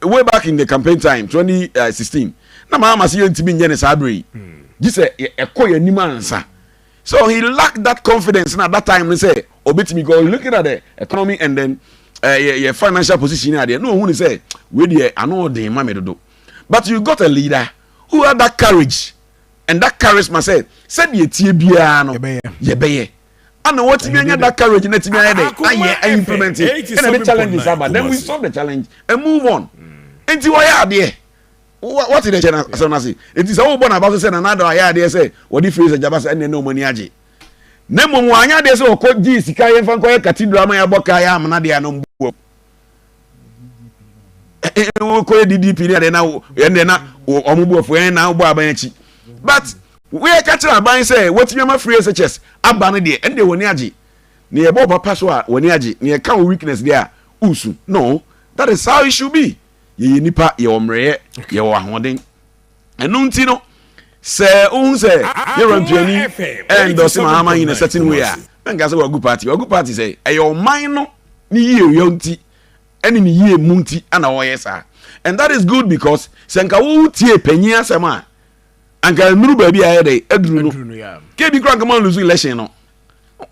way back in the campaign time 2016 na maa ma se yɛntumi nyɛ ne saa bere yi gye sɛ ɛkɔ yɛn anim ansa so he lacked that confidence na that time no sɛ ɔbɛtumi because he looking at the economy and then uh, eh, your, your financial position ne adeɛ na ɔhu ne sɛ wei deɛ ano ɔden ma me dodo but you got a leader who had that courage and that charisma sɛ sɛdeɛ tie biara no yɛbɛyɛ ana wɔtumi anya that courage na tumi ayɛ dɛ ayɛ ayɛ implement ɛna de challenges aba then we solve the challenge and move on mm. nti wɔyɛ adeɛ wɔte dɛ kyɛ na asɛm no ase nti sɛ wobɔ n'aba so sɛ nanada ayɛ adeɛ sɛ wɔde firi sɛ gyaba sɛ ɛnneɛ na ɔma ni agye na mmom wɔanyɛ adeɛ sɛ wɔkɔ gyee sika yɛmfa nkɔyɛ cathedral ma yɛabɔ kaa yɛ amena deɛ a na ɔmbɔ wokɔyɛ ddp ne adeɛ na ɛndeɛ na ɔmo bu afu ɛn na wobɔ aban akyi but woyɛ ka kyerɛ aban sɛ watumi ama free shs aba no deɛ ɛndeɛ wɔni agye ne yɛbɔ ɔba pa so a wɔni agye ne yɛka wo weakness deɛ a wosu no that is how it should be yɛyɛ nipa yɛwɔ mmerɛyɛ yɛwɔ ahoɔden ɛno nti no sɛ wohu sɛ yɛwura mpiani ɛndɔse ma ama nyina certain way a na nka sɛ wagu party wagu party sɛ ɛyɛ ɔman no ne yie yɛ nti ɛne ne yie mu nti ana wɔyɛ saa and that is good because sɛ nka wo tie panyin asɛm a anka nnuru baabi a ɛyɛ dɛ aduru no kebi kora nkama lusu election no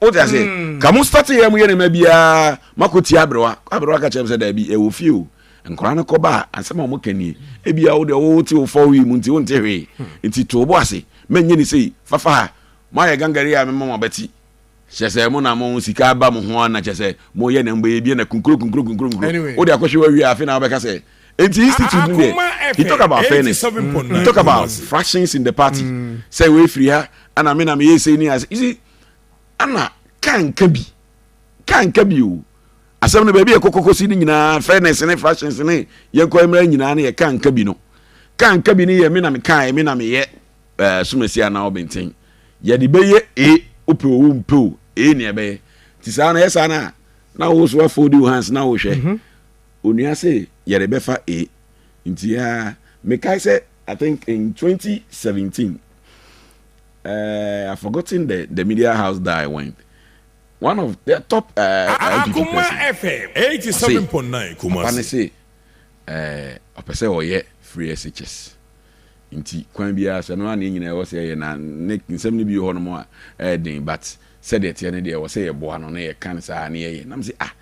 o ti ase hmm. ka mo start yɛ mo yɛ ne ma biara mako ti aberewa aberewa ka kyerɛ mi sɛ daabi ɛwɔ fie o nkɔla no kɔba a asɛm a wɔn ka nie ebi a wɔde wɔwɔ ti wɔfɔ wi mu nti wɔnte hwee hmm. nti to bo ase mɛ nye ne sei fafa ha mo ayɛ gangare a mɛma mo abɛti kyɛ sɛ mo na mo sika ba mo ho ana kyɛ sɛ mo yɛ na mbɔ yɛ bi na kunkuro kunkuro kunkuro kunkuro o de akɔhwɛ wa wi afe na wɔbɛka sɛ nti institute mu deɛ he talk about fairness he talk about fractions in the party mm. sɛ wɔafiri ha ana me na meyɛ sei ne ase isi ana ka nka bi ka nka bi o asɛm no baabi yɛ kɔkɔkɔsi no nyinaa fairness ne fractions ne yɛnkɔ mmara nyinaa no yɛ ka nka bi no ka nka bi no yɛ me na meka me na meyɛ eh, somasi anaa ɔbɛnten yɛde bɛyɛ e wopɛ o wompɛ o e ne ɛbɛyɛ nti saa no yɛ saa no a na wo so afodi wo hands na wohwɛ mm -hmm. Onua se yɛrebɛfa A nti yaa mekae sɛ I think in twenty seventeen eh I forgotten the the media house that I went one of the top eh eh NPP person ɔse papa no se eh ɔpɛ sɛ ɔyɛ free SHS nti kwan biara so ɛno ara na yɛn nyinaa ɛwɔ sɛ yɛyɛ na ne nsɛm no bi wɔ hɔnom a ɛyɛ den but sɛdeɛ ɛteɛ no deɛ ɛwɔ sɛ yɛboa no na yɛka no saa na yɛyɛ na mese ah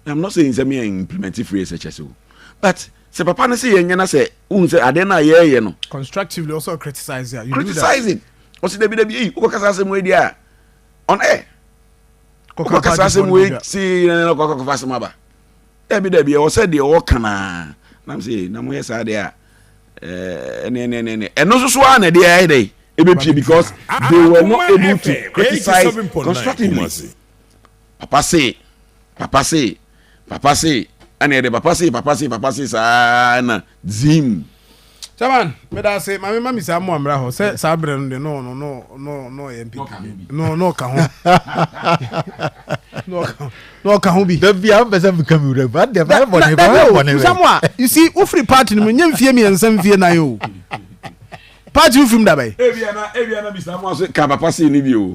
I'm not saying sɛ me yɛn implement phrase ɛkyɛ sɛ o but sɛ papa no sɛ yɛn nyɛ na sɛ ohun sɛ adeɛ no a yɛɛyɛ no. constructively ɔsɛ ɔcriticise a you do that. criticizing ɔsɛ dabi dabi eyi wokɔ kasa asɛm wei di a on air wokɔ kasa asɛm wei si yɛn na kɔkɔ kɔfa asɛm aba dabi dabi ɛwɔ sɛ deɛ ɔka naa nam sɛ na mo yɛ saa deɛ a ɛne ɛne ɛne ɛne ɛno nso so a na ɛde ayɛ dɛ ebepie because they were not able to criticize constructively. papa se, papa se, papa se, ɛna yɛde papa se, papa se, papa se saa na zim. Chairman, meda ase ma me ma me saa mo amra hɔ sɛ saa brɛ no de no no no no no yɛ mpi no no ka ho no ka ho bi da bia mpɛ sɛ meka me wura ba de ba bɔ ne ba bɔ ne sɛ mo a you see wo firi party no mu nyɛ mfie mmiɛnsa mfie nan o party wo firim dabɛn ebia na ebia na bisa mo ase ka papa sei ne bi o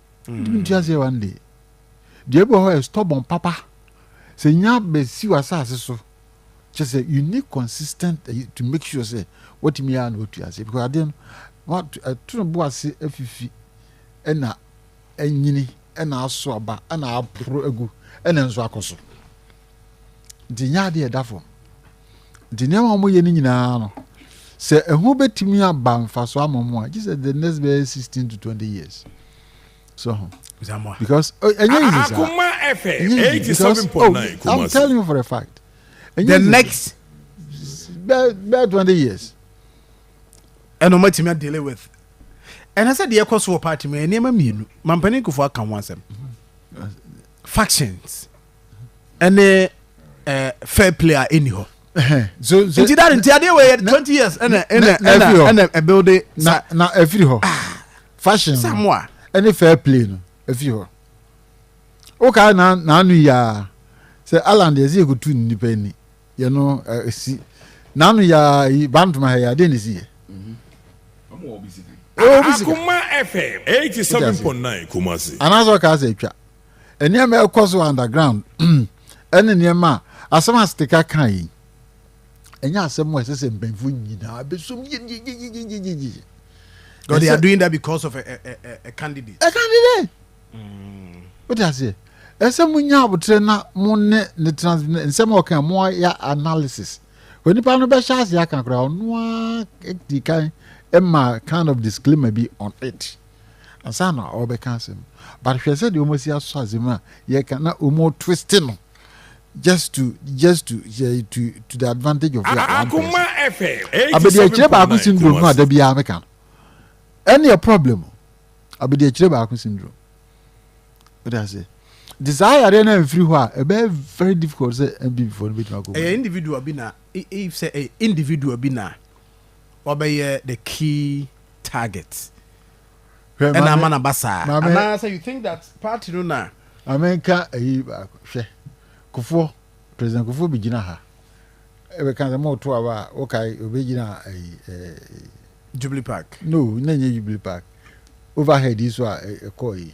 nti aseɛ wa nde deɛ bi wɔ hɔ yɛ stubborn papa sɛ nya bɛsi wɔ asase so kyɛ sɛ you need consistent eh, to make sure sɛ watumi ara na watu ase because adeɛ no ɛto no bo ase afifi ɛna anyini ɛna aso aba ɛna aporo agu ɛna nso akɔ so de nyɛ adeɛ ɛda fam nti nneɛma wɔn yɛ no nyinaa no sɛ ɛho bɛtumi aba mfaso ama mu a gye sɛ the next bɛyɛ sixteen to twenty years so ho because ɛnyɛ yi sisa ɛnyɛ yi because oh i'm telling you for a fact the next bɛɛ bɛɛ twenty years ɛna wɔn atumi adele with ɛna sɛ deɛ ɛkɔ so wɔ party mu nneɛma mmienu mampanin kofo aka ho asɛm factions. ɛne eh, fair play a ɛni hɔ nti dade nti adeɛ wɔyɛ 20 years ɛna ɛna ɛna ɛna ɛbuilde na na ɛfiri hɔ ah. fashion samoa ɛne fair play no ɛfiri hɔ wokaa na naano yiaa sɛ alan deɛ ɛsɛ yɛkɔtu nnipa ani yɛno ɛsi eh, naano yiaa yi bantoma ha yɛ adeɛ ne si yɛ akoma fm 87.9 kumase anaasɛ ɔkaa sɛ atwa nneɛma a ɛkɔ so underground ɛne nneɛma a asɛm a stika ka yi ɛnyɛ asɛm a ɛsɛ sɛ mpanyinfo nyinaa bɛsom yeyeyeyeyeye God, they are doing that because of a, a, a, a candidate. A candidate. Mm. What does it? ɛsɛ mo nya abotere na mo ne ne trans nsɛm a ɔka mo ayɛ analysis wɔ nipa no bɛhyɛ ase aka koraa ɔno a di kan ɛma kind of disclaimer bi on it. ansa na ɔrebɛka asɛm but hwɛ sɛdeɛ wɔn asi asɔ asɛm a yɛka na wɔn twist no just to just to to to the advantage of your one person abɛdi akyire baako syndrome no a da biara meka no ɛne yɛ problem abɛdi akyire baako syndrome wode aseɛ nti saa yareɛ no amfiri hɔ a ɛbɛyɛ very difficult sɛ mpp foɔ no bɛtumi akɔ ɛyɛ individual bi na if sɛ individual bi na ɔbɛyɛ the key target Hwɛ ɛna maame ama na ba saa maame anaasɛ you think that party no na maame nka ayi baako hwɛ kofoɔ president kofoɔ bi gyina ha ɛbɛka sɛ mo to aba a wokae obɛgyina ayi ɛɛ jubilee park no na nyɛ jubilee park overhead yi so a ɛ- ɛkɔɔ yi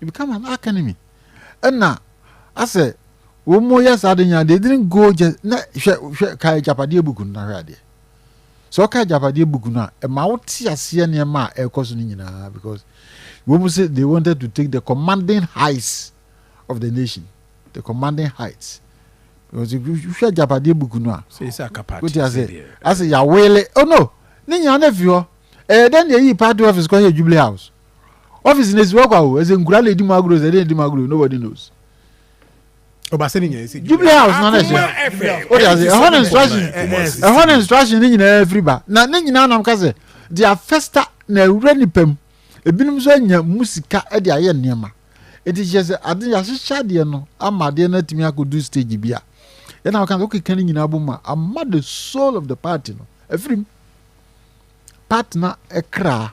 It become an arch enemy. Ɛna asɛ wɔn mo yɛ saa de nyinaa they didn't go just na hwɛ hwɛ ka agyapadeɛ book no na hwɛ adeɛ. Sɛ ɔka agyapadeɛ book no a ɛma wo te aseɛ nneɛma a ɛrekɔ so no nyinaa because wɔn mo sɛ they wanted to take the commanding heights of the nation the commanding heights because hwɛ agyapadeɛ book no a wote aseɛ asɛ yawele oh no ne nyinaa na fi hɔ ɛyɛ dɛn deɛ yii party office kɔ yɛ jubilee house. Office na esi hɔ kwa o. Ɛsɛ nkura na edi mu agorɔ, ɛsɛ de edi mu agorɔ, nobody knows. Ɔbasa ne nyɛ ɛsɛ Jubilee House na na ɛhyɛ. O de ase, ɛhɔ na instruction, ɛhɔ na instruction ne nyinaa firi ba. Na ne nyinaa nam ka sɛ, their festa na awura nipa mu. Ebinom nso anya mu sika de ayɛ nneɛma. Eti kyerɛ sɛ ade yɛahyehyɛ adeɛ no ama adeɛ no atumi akɔdu stage bi a. Ɛna ɔka sɛ wokeka ne nyinaa bom a, ama the soul of the party no afiri mu. Partner kra.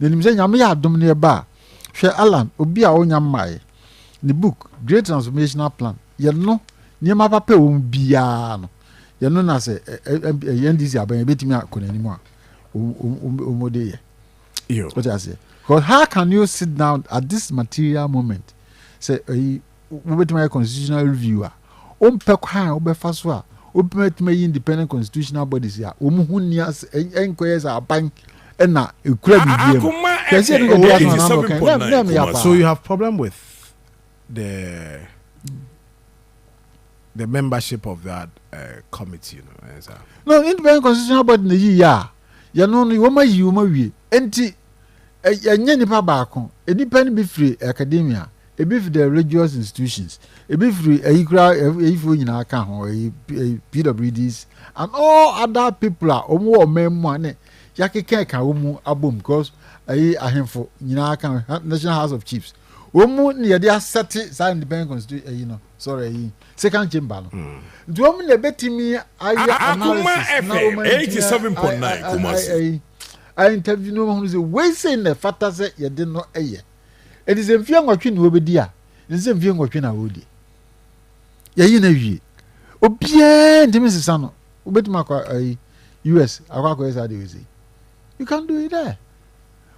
Menim sɛ Nyame yɛ adom ne ɛba a, hwɛ Alan, obi a ɔnya mmaeɛ, ne book, Great Transformational Plan, yɛ no, nneɛma papa ɛwɔ mu biara no, yɛ no na sɛ NDC abɛn ɛbɛtumi akɔ n'anim a, wɔn de yɛ. What I say? Because how can you sit down at this material moment? Say, wobɛtumi ayɛ constitutional review a, wompɛ kwan a wobɛfa so a wobɛtumi ayi independent constitutional bodies a wɔn ho nni ase ɛnkɔyɛ sɛ aban ɛna ekura biribi mu kɛse ɛno kɛse asoma na ano kan na ɛmɛ yɛ paa. So you have problem with the the membership of that uh, committee no ɛn sa. No independent constitutional body na yi yɛ a yɛn no no wɔn ayi wɔn awie nti ɛnyɛ nipa baako nipa no bi firi academia. Ebi fi the religious institutions, ebi firi ayi kura ayifoɔ nyinaa ka ho ayi PWDs and all other people a wɔn wɔ ɔman mu a ne yakeka ka wɔn mu abom because ayi ahemfo nyinaa ka National House of Chiefs wɔn mu na yɛde asɛte saa independent constitution ayi no sɔrɔ ayi second chamber no hmm. nti wɔn na ebetumi ayɛ analysis na wɔn eighty seven point nine kumasi ayi interview no wɔn ho sɛ wei sɛ na ɛfata sɛ yɛde no yɛ. Enti sɛ mfie nwɔtwe na ɔbɛdi a, ɛsɛ sɛ mfie nwɔtwe na ɔdi. Yɛyi no awie. Obiara ntumi nsesa no. Wobɛtumi akɔ ayi US akɔ akɔyɛ saa deɛ ɔsɛ. You can do it there.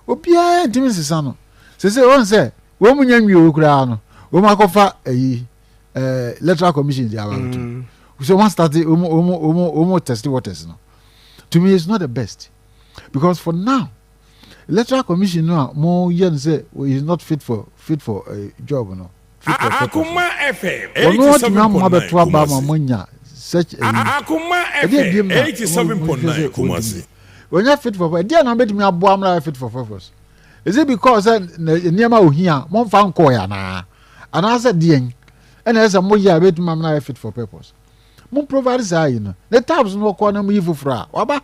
Obiara ntumi nsesa no. Sɛ sɛ wɔn sɛ wɔn mu nya nwie wɔ koraa no, wɔn akɔfa ayi ɛɛ electoral commission di aba bɛtum. Mm. So wɔn start wɔn wɔn wɔn wɔn test waters no. To me, it's not the best because for now. Electoral commission no a mo yɛ no sɛ he is not fit for fit for uh, job no. Fit for purpose. Wɔn atumi ama abɛto aba ama mo anya such a yi. Ɛdi ebiem na mo nhwɛ sɛ wɔntumi. Wɔnyɛ fit for purpose. Ɛdi na wɔbɛtumi aboa mo ayɛ fit for purpose. Is it because sɛ nneɛma ohia mo nfa nkɔɔ yɛ anaa? Anaasɛ deɛn? Ɛna ɛsɛ mo yɛ a ɛbɛtumi ama ayɛ fit for purpose. Mo provide saa yi no. Ne tabs no wɔkɔ na mo yi foforɔ a waba.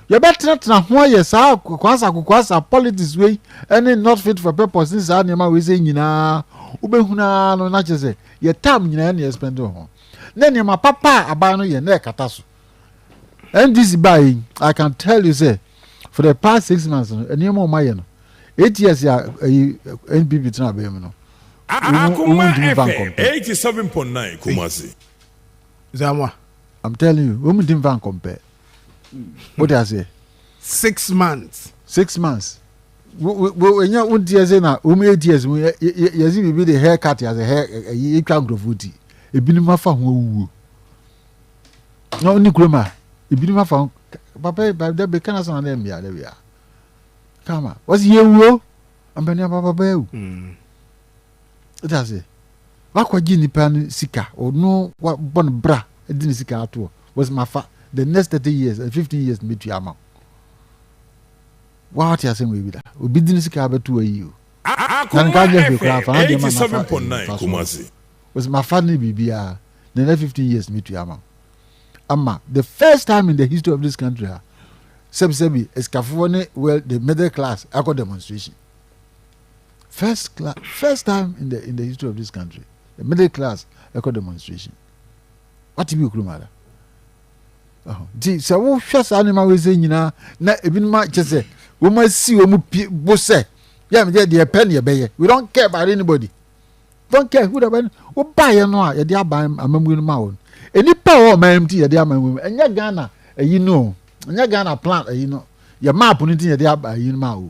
yɛbɛtenatena ho ayɛ saa akokoasa akokoasa politics wei ɛne not fit for purpose ne saa nneɛma wei sɛ nyinaa wobɛhunu ara no na kyerɛ sɛ yɛ time nyinaa ne yɛspɛnde wɔ ho na nneɛma papa a aban no yɛ na ɛkata so ndc baa yi i can tell you sɛ for the past six months no nneɛma ɔma yɛ no eight years a ɛyi npp tena abɛn mu no Akuma FM 87.9 Kumasi. Zamwa. I'm telling you, wɔn mu di nfa nkɔmpɛ. o de aseɛ. six months. six months ɛnyɛ wo deɛ sɛ na wɔn eight years mu yɛsi biribi de hair cut yɛsɛ hair ɛyi etwa nkurɔfoɔ ti ebinom afa ho awuo na wɔn ni kurom a ebinom afa ho papa yi papa dɛbi kana san dɛ mmea dɛbi a kama wɔsi yɛ wuo mpanyinfoɔ papa yi o. wote ase wakɔgye nipa no sika ɔno wabɔ no bra de ne sika atoɔ wɔsɛ mafa the next thirty years and eh, fifteen years mɛtua ama wa wate asɛm wei bi da obi de ne sika abɛto ayi o na nka nyɛ hwee koraa fa adeɛ ma nafa fa so wɔsɛ mafa ne biribiara the next fifteen years mɛtua ama ama the first time in the history of this country ha sɛbisɛbi esikafoɔ ne well the middle class akɔ demonstration first class first time in the in the history of this country the middle class ɛkɔ demonstration wate bi okurum ada nti sɛ wohwɛ saa nneɛma wei sɛ nyinaa na ebinom akyɛ sɛ wɔn asi wɔn pie bo sɛ yɛ yɛ deɛ pɛ ne yɛbɛyɛ we don't care about anybody don't care who the one wobaeɛ no a yɛde aba amammuo no ma wɔn nnipa a wɔn ɔman mu ti yɛde ama wɔn ɛnyɛ ghana ɛyi no ɛnyɛ ghana plan ɛyi no yɛ map no ti yɛde aba ɛyi no ma wɔn.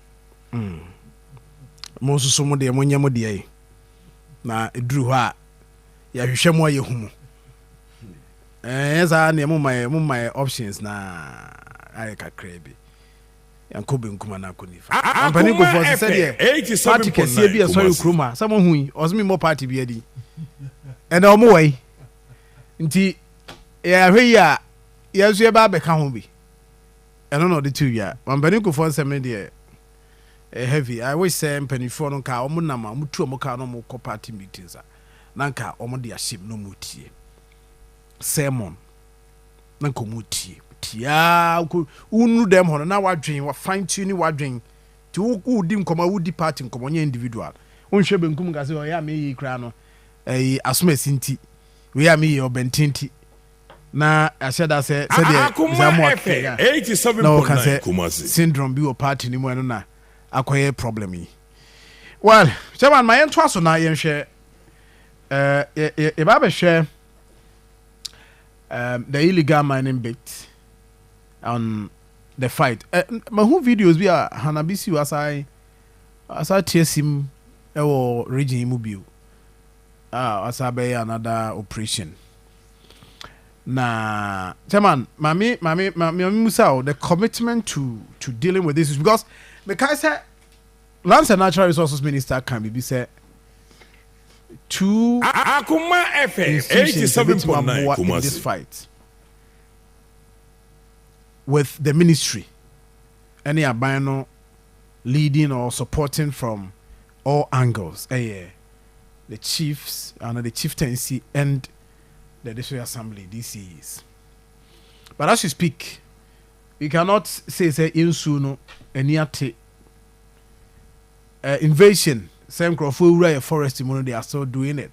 Mm. Mo nso so mo deɛ mo nyɛ mo deɛ yi. Na eduru hɔ a yɛhwehwɛ mo a yɛhu mo. Ɛnyɛ saa neɛ mo ma yɛ mo ma yɛ options na ayɛ kakraa bi. Yɛnkɔ benkum anaa kɔ nifa. Ampani nkurɔfoɔ sɛ sɛdeɛ party kɛseɛ bi a ɛsɔre kurom a sɛ mo hu yi ɔsɛ mi mmɔ party bi adi. Ɛnna wɔn wɔ yi. Nti yɛahwɛ yi a yɛn nso yɛbɛ abɛka ho bi. Ɛno na ɔde too dwa. Mampanin Kufoɔ nsɛm no deɛ ɛyɛ heavy. I wish sɛ mpaninfoɔ no nka wɔn nam a wɔtu wɔn car na wɔn kɔ party meetings a na nka wɔn de ahyɛ mu na wɔn tie sermon na nka wɔn tie tiaa wokɔ wonuru dɛm hɔ no na wadwen wa fine tune wadwen ti wo wo di nkɔmɔ a wodi party nkɔmɔ nyɛ individual wonhwɛ benkum nka sɛ ɔyɛ a meyɛ yi koraa no ɛyi asom asi nti wei a meyɛ ɔbɛnten nti na yɛahyɛ da sɛ sɛdeɛ bisamu aka yi a na wɔka sɛ syndrome bi wɔ party no mu ɛno na akɔyɛ problem yi well chairman ma yɛntoa so na yɛnhwɛ yɛba abɛhwɛ um, the illegal mining bit on the fight uh, mahu videos bi a hanabisiw asae asa tie sim ɛwɔ region yi mu bio a asa bɛyɛ another operation Na Chairman, ma me ma me ma me musa o the commitment to to dealing with this issue because mekae sɛ Lands and Natural Resources Minister ka biribi sɛ two Akoma FM institutions a ebetumi 87.9 aboa in this Kumasi. fight with the ministry ɛne aban no leading or supporting from All Angles yɛ The Chiefs anaa The Chieftaincy and the District Assembly, DCAs. But as we speak, we cannot say sɛ yɛn suo no ani ate. Uh, invasion, sɛ nkurɔfoɔ awura yɛ forest mu no, they are still doing it.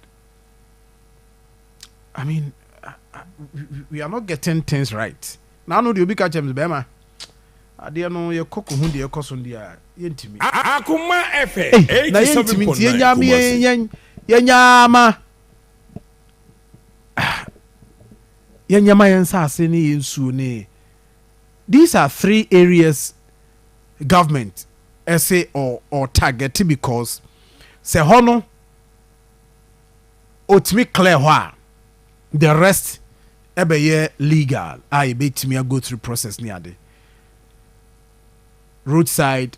I mean, uh, uh, we are not getting things right. Na ano deɛ obi ka kyerɛ me sɛ bɛɛma adeɛ no yɛ kɔ kɔ hu deɛ ɛkɔ so no deɛ a yɛntumi. Akoma ɛfɛ eighty seven point nine kumasi. Na yɛntumi nti yɛn nyaa yɛn yɛn yɛn nyaa ma yɛn nyaa ma yɛn nsaase ne yɛn nsuo ne these are three areas government ɛsɛ ɔ ɔ target because sɛ hɔ no. otumi clear hɔ a, the rest ɛbɛyɛ legal a yɛbɛtumi a go through process ne ade. Road side,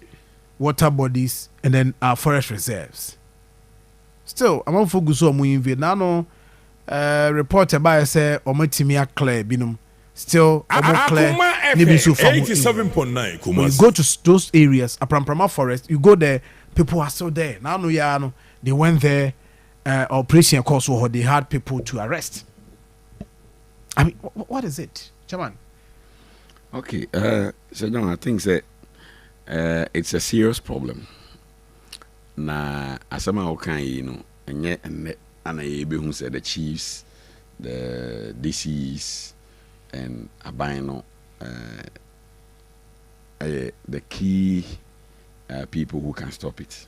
water bodies and then our forest reserves. Still, amanfoɔ gu so a wɔn invade. Na ano eh, report ɛbaeɛ sɛ wɔn atumi a clear binom. Still, wɔn clear Akoma ne bi FM nso fa ho eighty seven area. point nine When you go Kumasi. to s- those areas, Apramprama forest, you go there, people are still there. Na ano yɛ ara no, They went there, uh, operation ɛkɔɔ so wɔ hɔ, they had people to arrest. I mean, wh- what is it, chairman? Okay, uh, so John, I think that uh, it's a serious problem. Na asɛm a woka yi no, ɛnyɛ ɛnnɛ ana yɛbɛhu sɛ the chiefs, the DCs, and aban no uh, ɛyɛ the key uh, people who can stop it.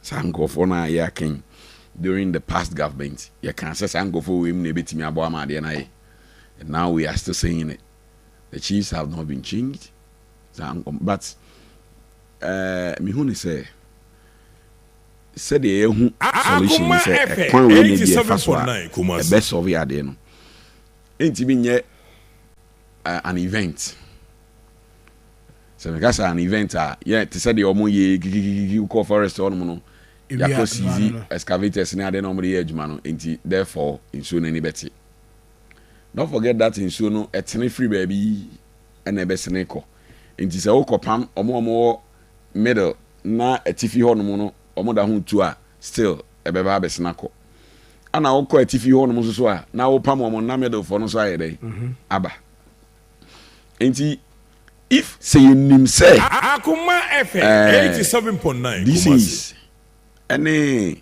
Saa nkorɔfoɔ no a yɛaka yi, during the past government, yɛkaa sɛ saa nkorɔfoɔ wei mu na yɛbɛtumi aboa ama adeɛ no ayɛ. And now we are still saying it. The chiefs have not been changed. Saa nkɔm, but eh, mehu ne sɛ, sɛdeɛ yɛahu solution ne sɛ, ɛkwan wei na bi a yɛfa so a, ɛbɛsɔve adeɛ no. Ɛntumi nyɛ. uh, an event sɛ meka sɛ an event a yɛ te sɛ deɛ ɔmo yɛ gigigigi wokɔ forest hɔnom no yɛakɔ sizi excavators ne ade na ɔmode yɛ adwuma no nti therefore nsuo no ani bɛte don't forget that nsuo no ɛtene firi baabi ɛna ɛbɛsene kɔ nti sɛ wokɔpam ɔmo ɔmo wɔ middle na atifi hɔnom no ɔmo da ho tu a still ɛbɛba abɛsen akɔ. Ɛna wokɔ atifi hɔnom nso so a, na wopam wɔn na Middlefoɔ no nso ayɛ dɛn? Mhm. Aba. Nti, if sɛ yɛnim sɛ. Akoma FM ɛɛ, eighty seven point nine this Kumasi. is ɛne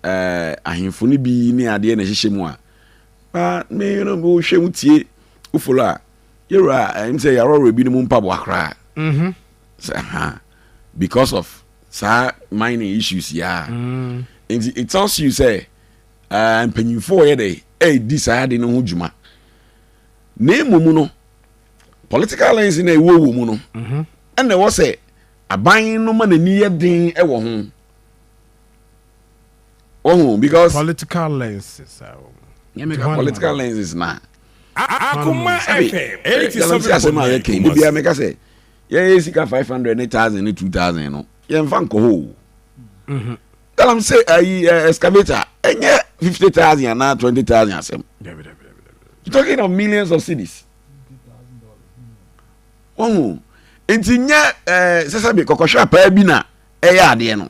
ɛɛ ahemfo no bi ne adeɛ na ɛhyehyɛ mu a, na me no wohwɛ wotie wofolo a, yɛwura ɛm sɛ yɛaworɔworɔ ebinom mpaboa koraa. Mhm. Sɛ ha because of saa mining issues yi a mm. nti it tells you sɛ uh, mpanyinfoɔ yɛ dɛ ɛredi saa ade no ho dwuma na emu mu no political lens na ɛwɔ wɔ mu no mhm. ɛna ɛwɔ sɛ aban no ma n'ani yɛ den ɛwɔ ho. ohun because. political lenses a wɔn. nyɛ mi ka political lenses na. akoma ɛkɛ ɛyɛ ti sɛ mi kɔ mɛ ɛyɛ kɛ ebi a mi ka sɛ yɛn yɛ sika five hundred ne thousand ne two thousand no yɛn fa nkɔ hɔ o. Mhm. tell am say ayi eh, eh, excavator ɛnyɛ fifty thousand anaa twenty thousand asɛm. you talking of millions of cities. wɔn o nti nyɛ ɛɛ sɛsɛ bi kɔkɔhwɛ apaa bi na ɛyɛ adeɛ no.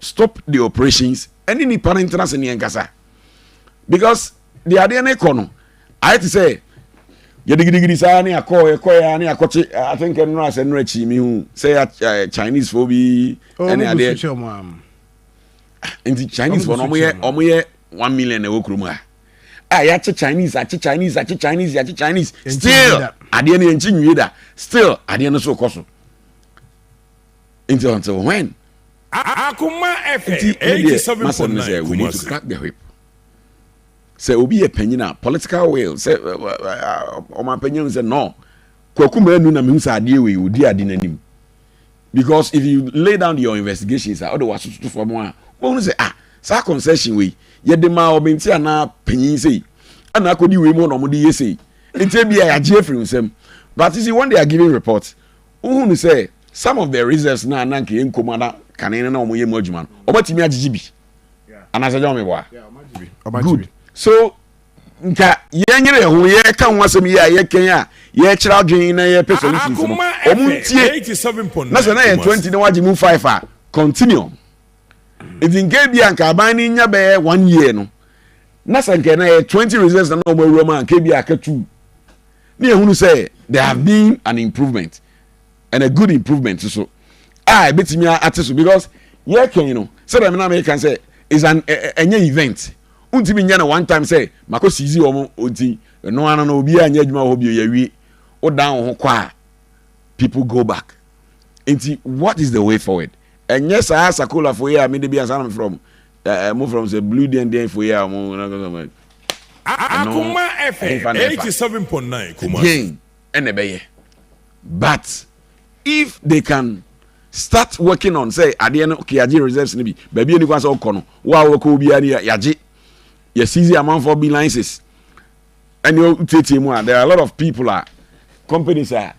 Stop the operations ɛne nipa no ntena ase ne ɛnkasa because deɛ adeɛ no kɔ no ayɛ te sɛ yɛdigidigidi saa ne akɔ ɛkɔ yɛ ne akɔkye I think ɛnora sɛ ɛnora akyi mi hu sɛ eh, Chinese fo bi ɛne oh, adeɛ nti Chinese fo no ɔmo yɛ ɔmo yɛ one million ɛwɔ kurom ha a ah, yɛakye chinese akye chinese akye chinese yɛakye chinese still adeɛ no yɛnkyi nwie da still adeɛ no so kɔ so Nti until when? Akoma ɛfɛ, Nti me deɛ 87.9 m'asɛm ne sɛ we need to crack the whip. Sɛ obi yɛ panyin a political will sɛ ɛ, ɛ, ɛ, a, ɔmanpanyin hu sɛ no, Kwaku Manu na mehu sɛ adeɛ wei odi ade n'anim. Because if you lay down your investigations a wode w'aso toto fam a wobɛhunu sɛ ah saa concession wei yɛde maa ɔbɛnti anaa panyin sei ɛna akɔdi wei mu na wɔde yɛ sei. Nti ebia yɛagye afiri wo nsam. But you see when they are giving reports Wohunu sɛ some of the reasons no a na anka yɛnkɔ mu a na kane no na wɔyɛ mu adwuma no, wɔatumi agyegye bi? Anaasɛ ɛnyɛ wɔn meboa? Good. So nka yɛnyere yɛn ho, yɛka ho asɛm yi a yɛkɛn a yɛkyerɛ adwene na yɛpɛ solutions no, wɔn ntie. Na sɛ na yɛ twenty na wɔagye mu five a, continue. Nti nka ebi a nka aban no nya bɛyɛ one year no, na sɛ nka na yɛ twenty reasons na wɔn awura mu a nka ebi a aka two. Na yɛhunu sɛ there have been an improvement and a good improvement nso a ɛbɛtumi ate so because yɛkɛn no sɛdeɛ me na meka sɛ is an ɛnyɛ event wontumi nyɛ no one time sɛ makɔ sizi wɔn nti ɛno ano no obiara nyɛ adwuma wɔ hɔ bio yɛwie wodan wo ho kɔ a people go back nti what is the way forward ɛnyɛ saa sakolafo yi a mede bi ansa na mefrɛ wɔn Eh, eh, mo from sɛ blue deɛn deɛn fo yɛ a mo na kasa mo. Akoma ɛfɛ eighty seven point nine Kumasi. Deɛn ɛna ɛbɛyɛ but if they can start working on sɛ adeɛ no yagye reserves no bi baabi a nikwa sɛ ɔkɔ no wo a wɔkɔ obiara no yagye yɛ seize amanfoɔ bi licenses ɛne ɔtietie mu a there are a lot of people a companies a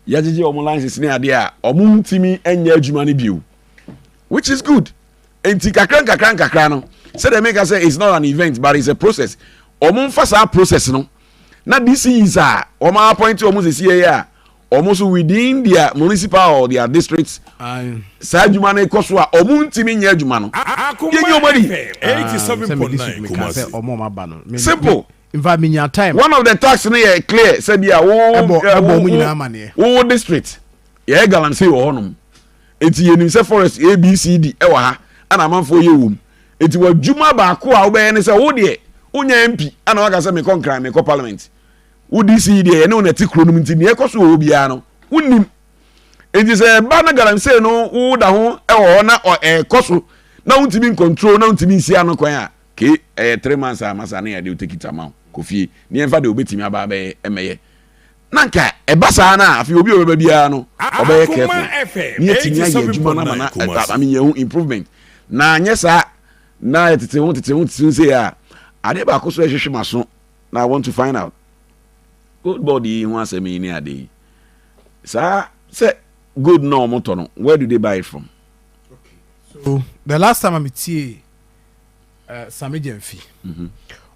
yɛgyegye wɔn licenses ne adeɛ a wɔn ntumi nyɛ adwuma no bio which is good. nti kakra nkakra nkakra no sɛdeɛ meka sɛ it's not an event but it's a process wɔn nfa saa process no na this is a wɔn appoint wɔn sisi yɛ a wɔn so within their municipal or their district saa adwuma no kɔ so a wɔn ntumi nyɛ adwuma no yɛ nyɛ wɔn ani. simple nfa mi nya time. one of the tax no yɛ clear sɛbi a wo wo wo district yɛ galamsey wɔ hɔnom Enti yɛnim sɛ forest A, B, C, D wɔ ha ɛna amanfoɔ yɛ wɔ mu. Enti w'adwuma baako a wobɛyɛ ne sɛ wo deɛ wonya MP ɛna waka sɛ mekɔ Nkran, mekɔ parliament. Wo DC yi deɛ yɛne wo na ɛte kuro no mu nti nea ɛkɔ so wɔ hɔ biara no wonnim. Enti sɛ ɛba na galamsey no wo da ho wɔ hɔ na ɛkɔ so na wontumi ncontrol na wontumi nsi ano kwan a, ke ɛyɛ three months a masa ne yɛde wo tekiti ama wo kɔ fie ne yɛmfa deɛ wobɛtumi aba abɛyɛ mmɛyɛ. na nka ɛba saa no a, afei obi a ɔbɛba biara no, ɔbɛyɛ careful na yɛatumi ayɛ adwuma no ama no I mean yɛhu improvement na anyɛ saa na yɛtete ho tete ho tete ho sei a, adeɛ baako so ɛhwehwe m'aso na I want to find out gold board yi ho asɛm yi ne ade yi saa sɛ gold na wɔn tɔ no where do they buy it from? Okay. So the last time I metie Same Gyamfi,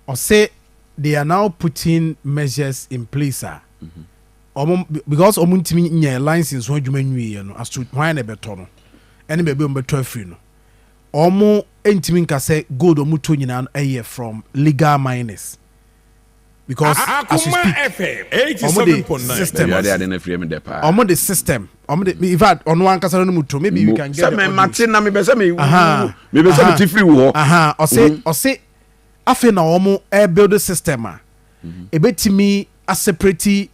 ɔse they are now putting measures in place a ɔmo because ɔmo ntumi nyɛɛ lines nso adwuma nwieɛ no as to hwan na ɛbɛtɔ no ɛne baabi ɔmo bɛtɔ afiri no ɔmo ntumi nka sɛ gold ɔmo tɔ nyinaa no ɛyɛ from legal miners. because as you speak ɔmo de system ɛwurade ade na firi mi dɛ paa ɔmo de system ɔmo de in fact ɔno ankasa no mu to maybe we can get the audio sɛ mɛ mate na mɛ bɛ sɛ mɛ wu mɛ bɛ sɛ mɛ ti firi wɔ hɔ ɔse ɔse afei na ɔmo ɛbuild system a ebetumi aseparate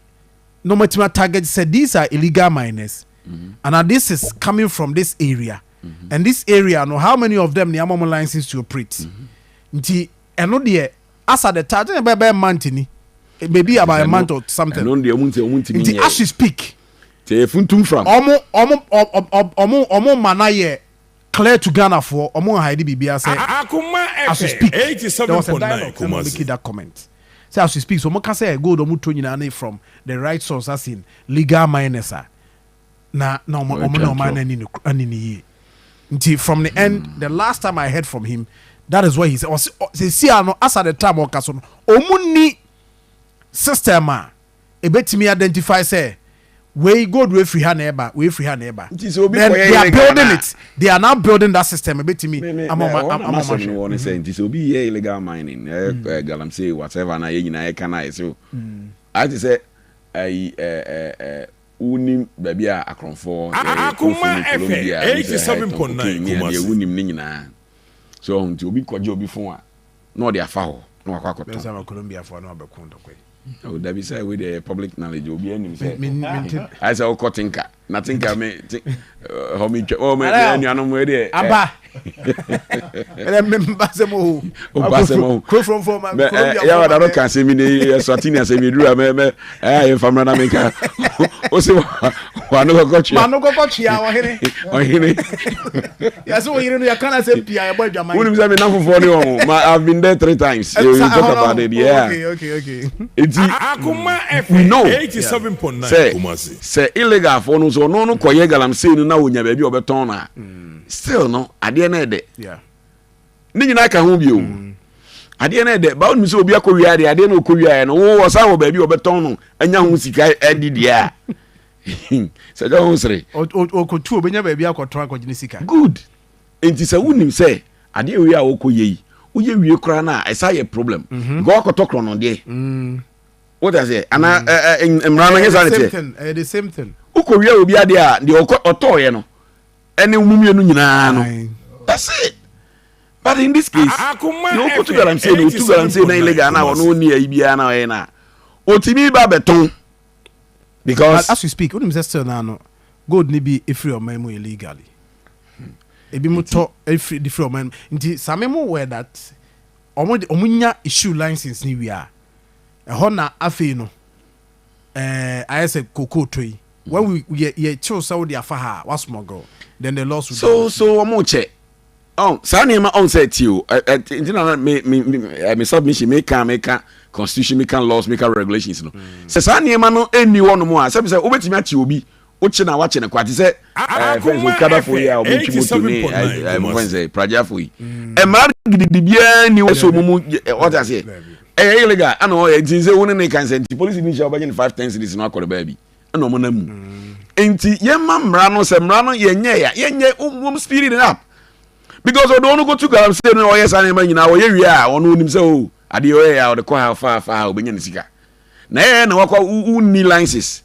na ɔmo atumi atarget sɛ these are illegal miners mm-hmm. and this is coming from this area mm-hmm. and this area no how many of them ni ama ɔmo license to operate mm-hmm. nti. Ɛno deɛ Asa the touch ɛna ɛbɛyɛ bɛyɛ month ni maybe about a month or something. Ɛno deɛ ɔmo ntɛ ɔmo ntumi nyɛ. Nti as she speak. Sɛ yɛ funtum fam. Ɔmo ɔmo ɔmo ɔmo ma na yɛ clear to Ghana foɔ ɔmo nhayidi biribi ara sɛ as she speak there was a dialogue sɛ mo make that comment sɛ as she speak so ɔmo ka sɛ gold ɔmo tɔ nyinaa ne from the right source as in legal miners a. na na ɔmo ɔmo na ɔmo anani no ani no yie nti from the end mm. the last time i heard from him that is what he said ɔsi sisi ano as at the time ɔka so no ɔmo ni system a ebetumi identify sɛ wei gold wey firi ha na ɛba wey firi ha na ɛba then they are building it they are now building that system ebetumi ama ɔmo ama ɔmo ahwɛ. ɔmo ne sɛ nti sɛ obi yɛ illegal mining ɛɛ mm. eh, galamsey whatever na yɛ nyinaa yɛ kan a yɛ sɛ o ayɛ ti sɛ ɛyi ɛɛ ɛɛ. Wunim baabi a akorɔmfo wɔ? Sɛ ɛyɛ kurofo ne Colombia anaasɛ Haiti tɔn cocaine ne adeɛ, wunim ne nyinaa. So ɔho? Nti obi kɔgye obi fon a, na ɔde afa hɔ na wakɔ akɔtɔn. Bɛsan ama Colombiafo a na wɔabɛko ntɔkwa yi. Oh, dabi sɛ wei deɛ ɛyɛ public knowledge, obiara nim sɛ. Me, me, mente. Ayɛ sɛ wokɔ Tinka, na Tinka me, ti, hɔ metwa, oh, me, me anuanom wei deɛ. Aba. ɛnɛ mmemba sɛm o ɔba sɛm o kuro fɔnfɔn ma kuro bi a yawa dano kan sɛmi ne ɛsɔti ni asɛmi duro mɛ mɛ ɛyà yɛn famuna na mi ka o se wa no kɔkɔ tia wa no kɔkɔ tia ɔhene ɔhene yasi wo yiri no yɛ kan na sɛ pia ɛbɔ adwuma yi wuli mi sɛ mi na fofoɔ ni wɔn ma i have been there three times you eh, talk about it yeah okay okay okay eti we know sɛ sɛ illegal fo no so ɔno no kɔ yɛ galamsey no na onya baabi ɔbɛtɔn na. still no adeɛ no ɛdɛ ne nyinaa ka ho bio mm. adeɛ no ɛdɛ bawo nim sɛ obi akɔ wia adeɛ adeɛ no ɔkɔ wia no wo ɔsan wɔ baabi ɔbɛtɔn no anya ho sika ɛdi deɛ a sɛ gya ho sere ɔkɔtu obɛnya baabi akɔtɔn akɔgye ne sika good nti sɛ wonim sɛ adeɛ wei a wokɔ yɛ yi woyɛ wie koraa no a ɛsa yɛ problem mhm. nka wakɔtɔ korɔ no deɛ mm. wote aseɛ anaa mm. mmara no nyɛ saa ne teɛ wokɔ wia obi adeɛ a deɛ ɔtɔɔyɛ no ɛne wɔn mmienu nyinaa no that's it but in this case na okotu galamsey na otu galamsey na illegal na ɔno ni ayi biara na ɔyɛ na otimi ba bɛtɔn because as we speak wonim sɛ still na no gold ni bi efiri ɔman mu illegally ebi mo tɔ efiri di firi ɔman mu nti same mo wɛ that ɔmo ɔmo nya issue license ni wia ɛhɔ na afei no. eh, ayɛ sɛ kokoo to yi when we yɛ yɛ kyew sɛ wode afa ha a wa smuggle then the laws would so be so wɔn kyɛ ɔn saa nneɛma ɔn sɛ ti o ɛ ɛ ti na mi mi mi ɛ mi submission mi ka mi ka constitution mi ka laws mi ka regulations no sɛ saa nneɛma no ɛnni hɔ nom a sɛbi sɛ wobɛtumi ate obi wokye na wakye no kwa te sɛ fɛn sɛ okadafoɔ yi a ɔmotwi moto ne mofɛn sɛ pragyafoɔ yi ɛmaa gidigidibiaa ni wɔ sɛ ɔmu mu ɔte aseɛ ɛyɛ illegal ana ɔyɛ nti sɛ wo ne ne kan sɛ nti polisi bi nhyia wobɛgye no 5 10 cities no akɔre baabi ɛna ɔmo nam mu nti yɛma mmara no sɛ mmara no yɛnyɛ ya yɛnyɛ wɔm spirit up because ɔde ɔno kɔtu galamsey no ɔyɛ saa nneɛma nyinaa ɔyɛ wie a ɔno onim sɛ o oh, adeɛ ɔyɛ a ɔde kɔ ha fa fa ha obɛnya ne sika na ɛyɛ na wakɔ wonni licenses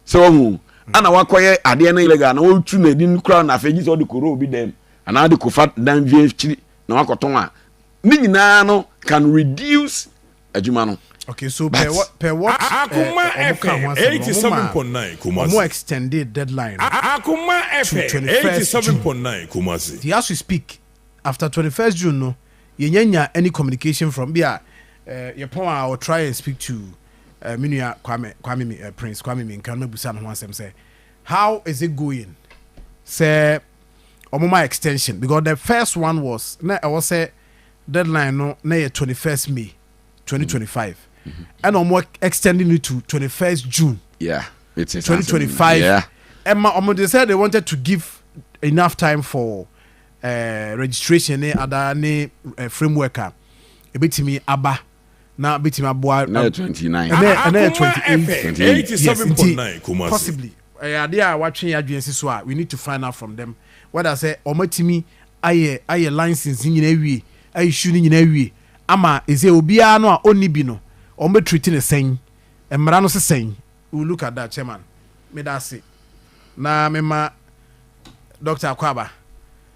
Sɛ wahu ana wakɔyɛ adeɛ no illegal na wɔtu no adin koraa na afei gye sɛ ɔde kɔwura obi dam anaa de kɔfa dan bi akyiri na wakɔtɔn a ne nyinaa no can reduce adwuma no. Okay, so but, per, what, per what Akuma uh, FM 87.9 Kumasi. More extended deadline. Akuma FM 87.9 Kumasi. The as we speak, after 21st June no, yenya nya any communication from bia uh, eh, yɛpɔn a or try and speak to Eh, me nua Kwame, Kwame mi, eh, Prince Kwame Minka no mɛbusa no ho asɛm sɛ, how is it going sɛ ɔmo ma extension because the first one was na ɛwɔ sɛ deadline no na yɛ 21st May 2025 ɛna ɔmo extending no to 21st June yeah, 2025 yeah. ɛma ɔmo de sɛ they wanted to give enough time for uh, registration ne ada ne uh, framework a ebetumi aba na betumi aboa. Ɛnɛ yɛ twenty nine. Ɛnɛ ɛnɛ yɛ twenty eight. Twenty eight is seven point nine Kumasi. Possibly ɛyɛ adeɛ a watwe yɛn adwene si so a we need to find out from them whether sɛ wɔn atumi ayɛ ayɛ license ne nyinaa awie ayɛ issue ne nyinaa awie ama ɛsɛ obiara no a ɔnni bi no wɔn bɛ treat ne sɛn mmara no sesɛn we look at that chairman meda ase na mema Dr. Akwaba.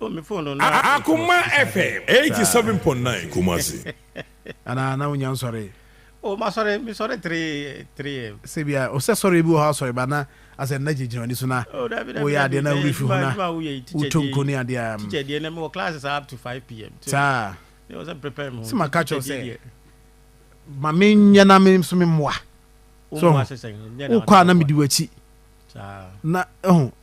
Akoma FM eighty seven point nine Kumasi. Ana na wonya nsɔre? O ma sɔre mi sɔre three three am. Sɛ bi a ɔsɛ sɔre bi wɔ hɔ asɔre ba na asɛ nna gyinagyina wani so na woyɛ adeɛ na wuri fi ho na woto nko ne adeɛ a. Teacher deɛ na mi wɔ classes up to five pm. Saa. Ne wɔ sɛ prepare mi ho. Sɛ ma ka kyerɛ sɛ ma mi nyɛ na mi nso mi mmoa. So wokɔ a na mi di w'akyi. Saa. Na ɛho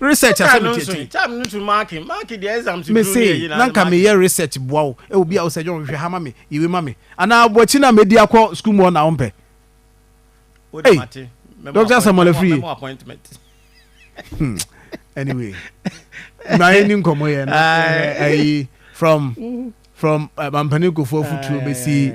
research asɛm no nso time no nso mark mark the exam to do ne na nka me yɛ research boa wo e obi a wo sɛ jɔn hwehwɛ ha ma me yewe ma me ana abo akyi na medi akɔ school mu na ompɛ hey doctor samuel afiri hmm. anyway na yɛ ni nkɔmɔ yɛ na ayi from from eh, mampanin kofoɔ futuo bɛsi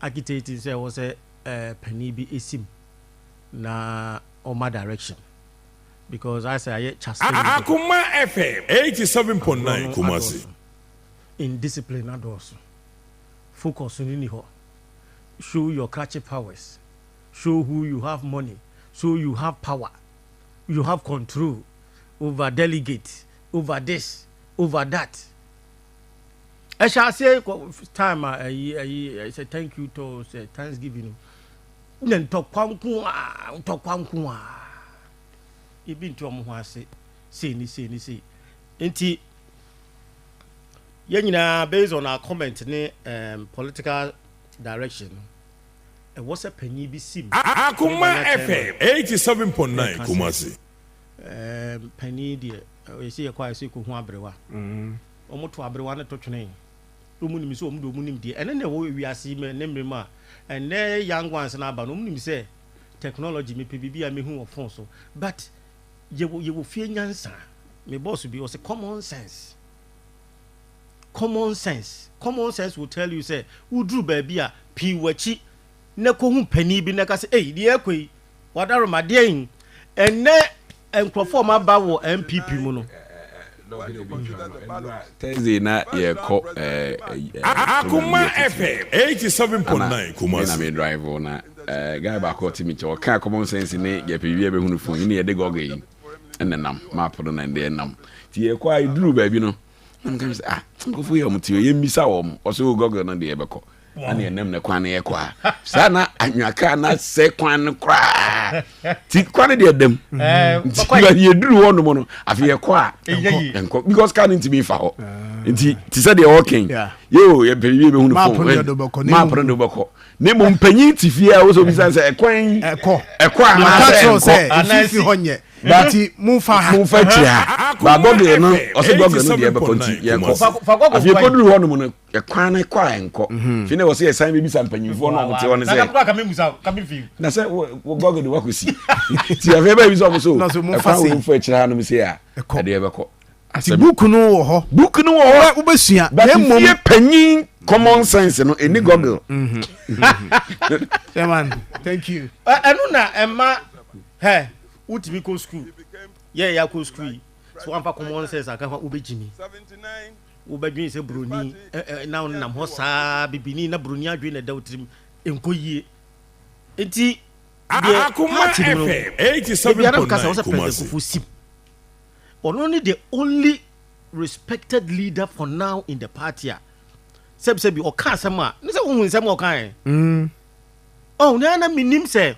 architect sɛ ɛwɔ sɛ uh, panin bi esim na ɔma direction because I say ayɛ chastain. Akoma FM eighty seven point nine Kumasi. Indiscipline adɔɔso focus ni ni hɔ show your catchy powers show who you have money so you have power you have control over delegate over this over that. Ɛhyɛ aseɛ kɔ time a ɛyi ɛyi ɛsɛ thank you to sɛ thanksgiving na ntɔkwa nko a ntɔkwa nko a ebi nti wɔn ho ase sei ne sei ne sei nti yɛn nyinaa based on our comment ne um, political direction ɛwɔ sɛ panyin bi si mu. Akoma FM eighty seven point nine Kumasi. ɛɛ panin deɛ yɛsi yɛkɔ a yɛsi kɔ hu aberewa mm-hmm. wɔn to aberewa no to twene wɔn nim sɛ wɔn de wɔn nim deɛ ɛne na ɛwɔ wiase mu ne mmerɛ mu a ɛnɛ young ones na aba no wɔn nim sɛ technology mepɛ biribi a mehu wɔ phone so but yɛwɔ yɛwɔ fie nyansa me boss bi ɔsɛ common sense common sense common sense will tell you sɛ woduru baabi a pii wɔ akyi na kɔhu panin bi na ka sɛ ei deɛ ɛkɔ yi Wadaroma deɛn? Ɛnɛ nkurɔfoɔ ɔmo aba wɔ NPP mu no. Thursday na yɛkɔ Akoma FM eighty seven point nine Kumasi. Ɛna mi drive o na guy baako ɔte mi kyɛ ɔka common sense ne yɛpɛ bi yɛbɛ hunu fun yi ne yɛde gɔgɔ yi ɛna nam map no na ɛde nam ti yɛkɔ a eduru baabi no. na meka no sɛ ah nkurɔfoɔ yɛ wɔn teɛ yɛmmisa wɔn ɔsɛ o gɔgɔ no deɛ yɛbɛkɔ ɛne ɛnam ne kwan no yɛkɔ a saa na anwaka na sɛ kwan no koraa ti kwan no deɛ dam nti yɛduru hɔ nom no afei yɛkɔ a ɛnkɔ because car no ntumi fa hɔ nti te sɛ deɛ wɔkɛn yɛo yɛpɛne wie bɛhu no fo map no de wobɛkɔ ne mmom mpanyin te fie a wosɛ obisa sɛ ɛkwan ɛkɔ anaasɛ ɛnkɔ But momfa ha. Momfa akyire ha. Ba Gɔgere no, ɔse Gɔgere no deɛ ɛbɛkɔ nti yɛnkɔ. Afei kɔduru hɔ nom no, ɛkwan no kɔ a ɛnkɔ. Mhm. Fei na wɔse yɛsan bɛbisa mpanyimfoɔ no a wɔte hɔ no sɛ. Na sɛ Gɔgere wakɔsi. Nti afei ɛbɛbisa wɔn so, ɛkwan wɔ momfa akyire ha nom sei a, ɛdeɛ ɛbɛkɔ. Asɛm. Ti book no wɔ hɔ. Book no wɔ hɔ. Wobɛsua. But fie panyin common sense no ɛni goggle. Chairman, thank you. Ɛno na ɛma hɛ wotumi kɔ school yɛ yɛ akɔ school yi so wamfa common sense aka ho wobɛgyimi wobɛdwene sɛ buroni na wonam hɔ saa bibini na buroni adwene na ɛda wo tirim ɛnkɔ yie nti deɛ party no no ebiara mka sɛ wo sɛ president kofo sim Ɔno ne the only respected leader for now in the party a sɛbisɛbi ɔka asɛm a ne sɛ wohu nsɛm a ɔka ɛ mm. oh, na na menim sɛ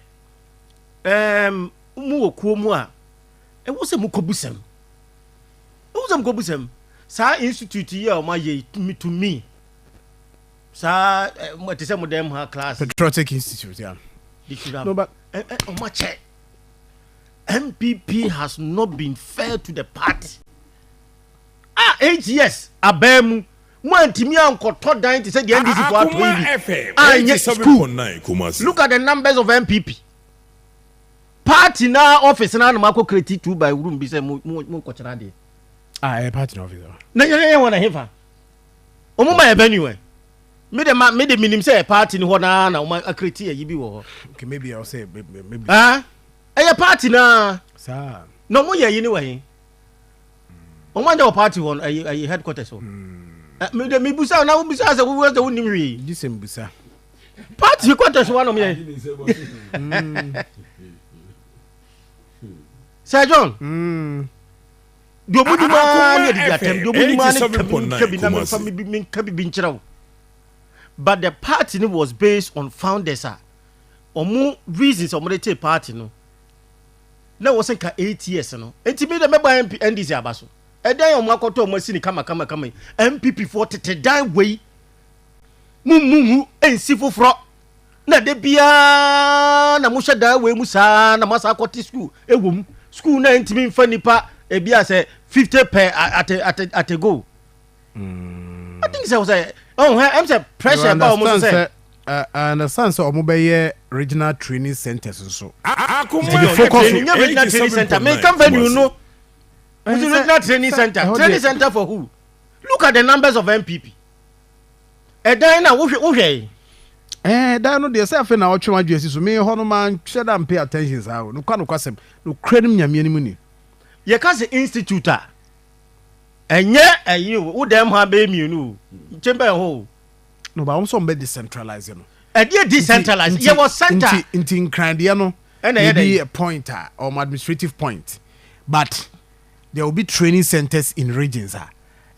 um, mu wɔ kuo mu a ɛwɔ sɛ mokɔbu sɛm ɛwɔ sɛ mokɔbu sɛm saa institute yi a ɔma yɛ to me saa ɛte sɛ mo dɛm ha class patriotic institute yeah. they should have ɔma kyɛ NPP has not been fair to the party a eight years abaa mu mo antumi ankɔtɔ dan te sɛ deɛ NDC fo atɔ yi bi a ɛnyɛ school look at the numbers of NPP party na office na anam akɔ kreti two by room bi sɛ mo mo mo nkɔkyerɛ adeɛ. a ɛyɛ party na office hɔ. na yɛn yɛn wɔn na hefa wɔn ma yɛ bɛ niwɛ me de ma me de minim sɛ party ni hɔ naa na wɔn akreti ayi bi wɔ hɔ. okay maybe ɔsɛ maybe. ah Ɛyɛ party no ara. Saa. Na wɔn yɛ ayi ne wɔ he? Wɔn anyɛ wɔ party hɔ no ayi ayi headquarters hɔ. Mm. Mi de mi busa na wo busa sɛ wo wɔ sɛ wo nim hwee. Gye sɛ mbusa. Party headquarters hɔ anam yɛ. Sir John. Mm. Deɛ ɔmo nim ara ne ɛdidi atɛm deɛ ɔmo nim ara ne kabi nkabi na mi nfa mi bi mi nkabi bi nkyerɛw. But the party was based on founders a. ɔmo reasons a ɔmo de tee party no na ɛwɔ sɛ nka eight years no nti mi de mɛba MP NDC aba so ɛdan a ɔmo akɔtɔ ɔmo asi ne kama kama kama yi NPP foɔ tete dan wei mu mu hu nsi foforɔ na de biara na mo hyɛ dan wei mu saa na mo asa akɔte school ɛwɔ mu school na ntumi nfa nipa ebi asɛ fifty per at a, at a, at a go. I think sɛ sɛ ɔn hɛ ɛm sɛ pressure ɛba wɔn so sɛ. I understand sɛ wɔn bɛ yɛ regional training centers nso. Akoma yɛ focus on regional training center mi kan venue no is the regional training center training center for who look at the numbers of NPP ɛdan na wohwɛ wohwɛ yi. Eh, dan no deɛ sɛ afei na ɔtwe wadwe asi so me hɔ no manhwɛ da mpay attention saa o nokwa nokwasɛm nokora no m nyameɛ no mu ni yɛka se institute a Ɛnyɛ ɛyi o, wo dɛm ha bɛyɛ mmienu o, nkyɛn bɛyɛ hɔ o. No ba wɔn sɛ wɔn bɛ decentralize no. Ɛdeɛ decentralize yɛ wɔ center. Nti nti nkran deɛ no. Ɛna ɛyɛ dɛ. Yɛ point a wɔn administrative point but there will be training centers in regions a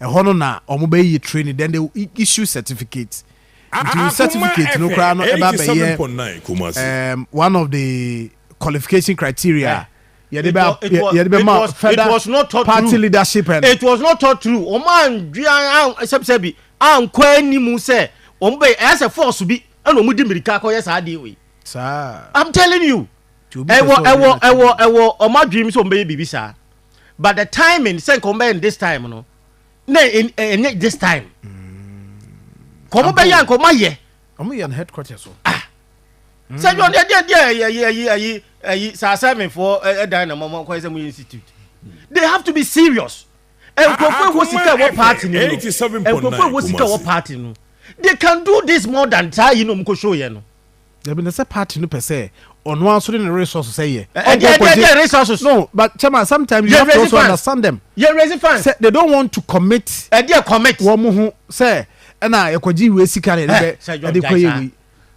ɛhɔ no na wɔn bɛ yɛ training then they will issue certificates. Nti ah, certificate no koraa no ɛba bɛyɛ one of the qualification criteria. Eh. yɛde bɛ yɛde bɛ ma further party leadership and. it was not thought through wɔn andwi an sɛbisɛbi ankɔ anim sɛ wɔn bɛ ɛyɛ sɛ force bi ɛna wɔn di mirika akɔyɛ saa adeɛ wei. saa i'm telling you ɛwɔ ɛwɔ ɛwɔ ɛwɔ wɔn adwiri mu sɛ wɔn bɛyɛ biribi saa but the timing sɛ nka wɔn bɛyɛ this time no na ɛnyɛ this time kɔn bɛyɛ nka wɔn ayɛ. Ɔmo yɛn headquarters so. Ah! Sɛ John deɛ deɛ deɛ ɛyi ɛyi ɛyi ɛyi ɛyi sɛ asɛmɛfoɔ ɛdan na mɔmɔ kɔɛ sɛ mo yɛ institute. They have to be serious. Nkurɔfoɔ ɛwɔ sika ɛwɔ party no no. Nkurɔfoɔ ɛwɔ sika ɛwɔ party no. They can do this more than saa yi na ɔmo kɔ show yɛ no. Dabi na sɛ party no pɛ sɛ ɔno aso de ne resources sɛ yɛ. Ɛdi ɛdi ɛdi resources. No, but chairman sometimes you have to also understand them. Yɛ raise fans. Sɛ they don't want to commit. Ɛdi ɛ commit. Wɔn ho sɛ. ɛna yɛkɔgye wei sika na yɛde eh, bɛ ɛde kɔyɛ wei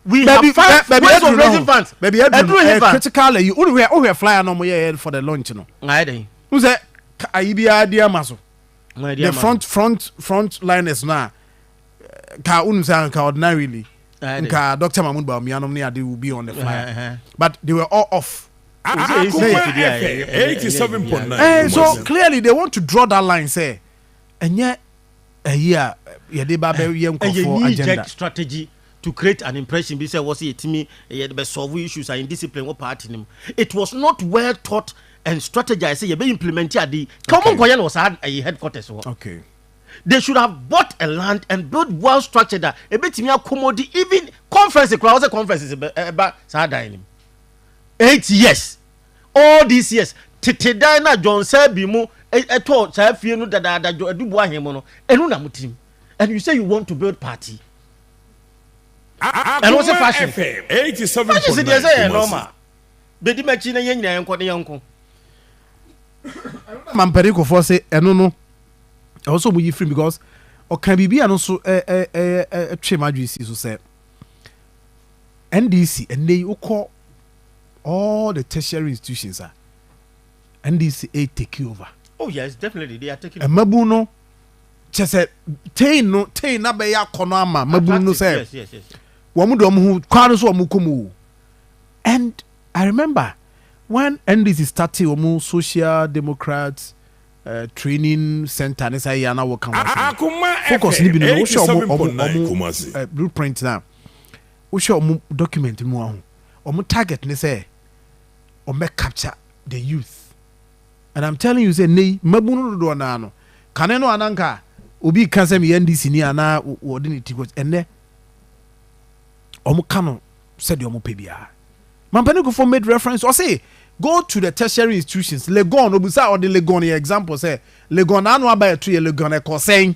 we have funds baby, ways of raising funds baby ɛduru hefa eh, critical ayi o hwɛ o hwɛ flyer na ɔmo yɛ yɛ for the launch no. nga yɛ dɛ. n sɛ ayi bi a di ama so. the front front front liners na eh, ka unu sɛ nka ordinarily nka doctor mahmood bawumia nom ne ade will be on the flyer but they were all off. Ah, ah, ah, so clearly they want to draw that line say ɛnyɛ ɛyi a yɛde ba bɛ yɛ nkɔfoɔ agenda. ɛyɛ strategy to create an impression bi sɛ wɔsi yɛtumi yɛde bɛ solve issues and discipline wɔ party nim it was not well thought and strategized sɛ yɛbɛ implement adi ka wɔn nkɔyɛ no wɔ saa ɛyɛ headquarters wɔ. okay. they should have bought a land and built well structured a ebetumi accommodate even conference koraa wɔsɛ conferences ɛba saa dan nim eight years All these years, tete dan no a John Selby mo tɔɔ saa fie no dadaada John Adubu ahen mo no, ɛno na mo tirim. And you say you want to build party. Ɛno se fashion. Fashion se deɛ sɛ yɛ normal. Bedi m'akyi na yɛn nyinaa yɛnkɔ na yɛnko. Mampani kofoɔ se ɛno no ɛwɔ sɛ ɔmo yi firim because ɔka biribi a no so ɛtwe m'adwene si so sɛ NDC ɛnɛ yi wokɔ all the tertiary institutions a ndc a take over. oh yes definitely they are taking. mmabun no kyɛ sɛ ten no ten na bɛyɛ akɔnɔ ama mmabun no sɛ wɔn de wɔn ho kwan no so wɔn kɔ mu o and i remember when ndc started wɔn social democrats. Uh, training center ne sɛ yɛ na wɔka wɔn focus ne bi no wohwɛ wɔn wɔn uh, blueprint na wohwɛ wɔn document mu ahu wɔn target ne sɛ wɔn bɛ capture the youth and I'm telling you sɛ nnɛ yi mmabun no dodoɔ naa no kane no ananka obi ka sɛ meyɛ NDC ni anaa wɔde ne ti kɔ ɛnnɛ wɔn ka no sɛdeɛ wɔn pɛ biara mampanin kofo made reference ɔse go to the tertiary institutions Legon obusa ɔde Legon yɛ example sɛ Legon n'ano aba ɛto yɛ Legon ɛkɔ sɛn.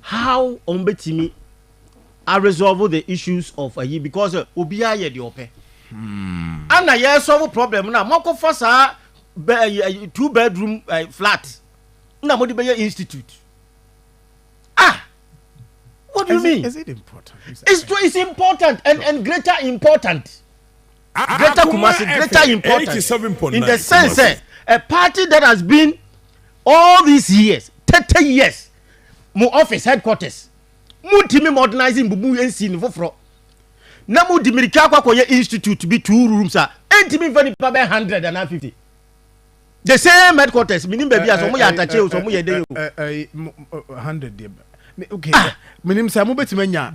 how wɔn bɛtumi a resolve the issues of ayi because obiara yɛ deɛ ɔpɛ ana yɛ solve problem no a moakɔfa saa two bedroom flat na mode bɛyɛ institute ah what do you mean is it important it's, it's important and, and greater important greater kumasi greater important in the sense eh, a party that has been all these years 30 years mo office headquarters, montumi modernize mbubu nsi no foforɔ na mode mirika akɔ akɔyɛ institute bi two rooms a ɛntumi mfa nipa bɛyɛ hundred anaa fifty the same headquarters menim baabi a sɛ ɔmoyɛ atakyɛ o sɛ ɔmoyɛ dɛn o hundred deɛ okay ah. menim sɛ mobɛtumi anya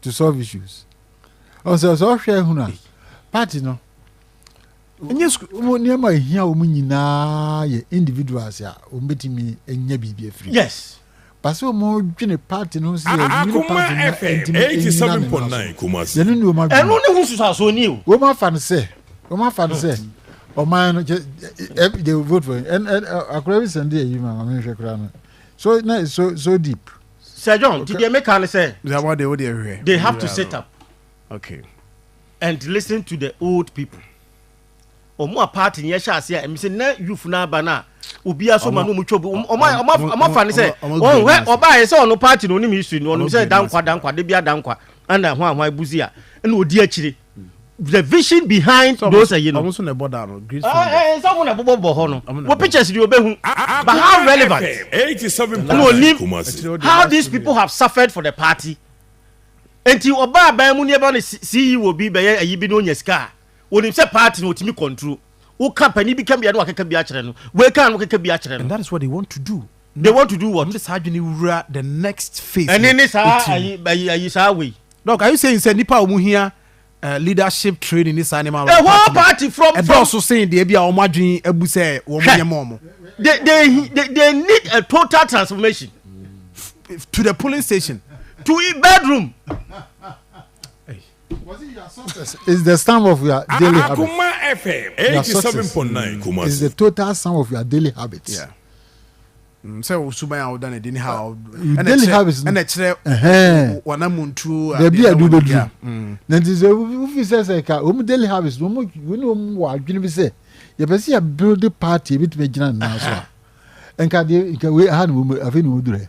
to solve issues ɔsɛ sɛ ɔhwɛ hunu a party no ɛnyɛ sukuu nneɛma ɛhia wɔn nyinaa yɛ individuals a wɔn bɛtumi anya biribi afiri yes basi wɔn dwene party no sɛ ɛnyini party no ɛntumi ɛnyina ne nan so yɛne ne wɔn adwene ɛno ne ho susaso ni o wɔn afa no sɛ wɔn afa no sɛ ɔman no kyɛ they vote for him ɛn ɛn akora bi sɛn de ayi ma ma mi nhwɛ kora no so na so so deep. Sir John, nti deɛ meka ne sɛ. Zawa deɛ wo deɛ hwɛ. They have to set up. Okay. And listen to the old people. Ɔmo a party ni ɛhyɛ ase a ɛmi sɛ na youth na aba na obi aso ma na ɔmo twɛ ɔmo ɔmo ɔmo afa ne sɛ ɔmo hwɛ ɔbaa yɛ sɛ ɔno party na ɔnim history no ɔno sɛ dankwa dankwa de bi adankwa ɛna ho ahoa ebuzi a ɛna odi akyire. the vision behind so those ayi no. ɔmo so na ɛbɔ dan no green ah, sunday. ɛɛ eh, nsa ɔmo na ɛbobɔ bɔ hɔ no wɔ pictures de obehu but how relevant ɛna onim how these people have suffered for the party nti ɔbaa aban mu ni ɛbɛ no ceo bi bɛyɛ ayi bi na onya sika a onim sɛ party na otumi control woka panyin bi ka bia na wakeka bi akyerɛ no wei ka no keka bi akyerɛ no. and that is what they want to do. They want to do what? Mede saa adwene wura the next phase. Ɛne ne saa ayi ayi ayi saa wei. Doc, are you saying sɛ nipa a wɔn hia uh, leadership training ne saa nneɛma no? The whole party from from. Ɛdɔɔso sen deɛ bi a wɔn adwene abu sɛ wɔn nyɛ mɔ wɔn. They they they they need a total transformation. To the polling station. To the bedroom. Is the sum of your daily habits. Akoma FM eighty seven point nine Kumasi. Is the total sum of your daily habits. Yeah. Mm, sɛ osuban a woda no adi ne ha ɛna kyerɛ wanamontuo baabi a wobɛduru mm. na nti sɛ wofi sɛ sɛ ka wɔm daily habits no wɔne wɔm wɔ adwene bi sɛ yɛpɛ sɛ yɛbuild party ɛbɛtumi agyina nnaa so a nka deɛ nka wei aha na wɔmu afei na wɔdurɛ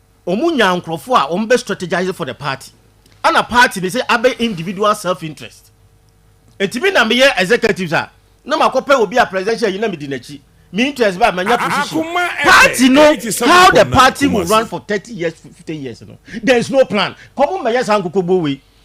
Wɔn nyaa nkorɔfoɔ a wɔn bɛ strategise for the party ɛna party no sɛ abɛ individual self interest nti me na me yɛ executives a na ma kɔ pɛ obi a presidential yi na me di n'akyi me interest bɛ a ma nya position party no how the party will run for thirty years fifty years no there is no plan kɔ mo mɛ yɛ saa nkokɔ buo wei.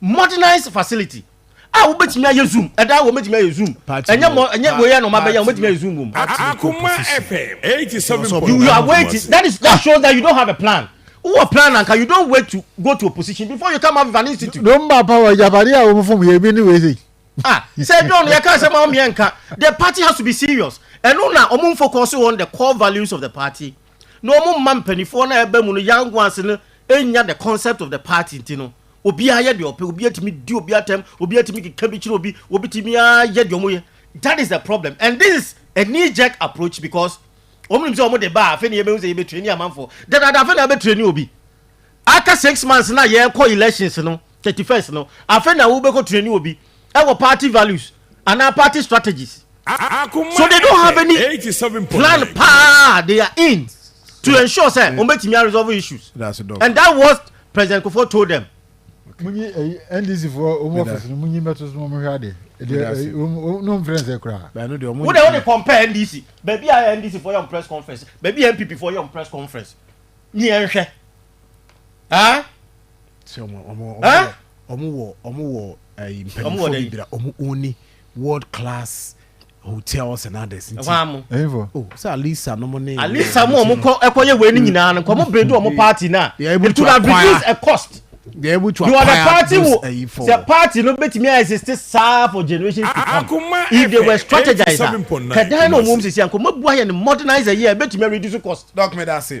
modernize facility a wobɛtumi ayɛ zoom ɛda wɔ mɛtumi ayɛ zoom ɛnyɛ mɔ ɛnyɛ wei ɛna ɔma bɛyɛ a wobɛtumi ayɛ zoom wɔ mu. Akoma FM eighty seven point nine. you are waiting that is that shows that you don't have a plan wowɔ plan anka you don't wait to go to opposition before you come up with an institute. don ba pa wɔ japade a wɔn fam yɛ ebi ne wei sɛ. ah sɛ don yɛ kan sɛ maa mi yɛ nka the party has to be serious ɛno na wɔn focus on the core values of the party. na ɔmo mma mpaninfoɔ no a ɛba mu no young ones no nya the concept of the party nti no obiara yɛ deɛ ɔpɛ obi atumi di obi atɛm obi atumi keka bi kyerɛ obi obi tumi ayɛ deɛ ɔmo yɛ that is the problem and this is a knee jerk approach because ɔmo nim sɛ ɔmo de ba afei na yɛbɛhu sɛ yɛbɛtire ni amanfoɔ dadaada afei na yɛbɛtire ni obi aka six months na yɛkɔ elections no thirty first no afei na wobɛkɔ training obi ɛwɔ party values anaa party strategies so they don't have any plan paa they are in to ensure sɛ wɔn bɛ tumi resolve issues and that was president kofo told them. munyi ɛyi eh, ndc fo ɔmu ɔfisi no munyi mɛto so ɔmu hwɛ ade ɛdi ɔmu n'o nfɛn sɛ kura. wo de o de compare ndc baabi a ndc fo yɛ ɔmu press conference baabi a npp fo yɛ ɔmu press conference ni yɛn hwɛ. ah sɛ ɔmo ɔmo ɔmo ah? ɔmo wɔ ɔmo wɔ ɛyi eh, mpanyinfoɔ bi bira ɔmo oni world class hotels and others nti ɛhɔ amo ɛyinfo o oh, sɛ alisa nom ne alisa mo ɔmo kɔ ɛkɔ yɛ wei ni nyinaa no nkɔmɔ bere do ɔmo party na it could have reduced a cost they are able to acquire the party will the party no betumi ayɛ sisi saa for generations to ah, come if they were strategized kɛdan na ɔmo sisi ankɔ mo bu ayɛ no modernize yɛ betumi reduce cost. dɔkita ase.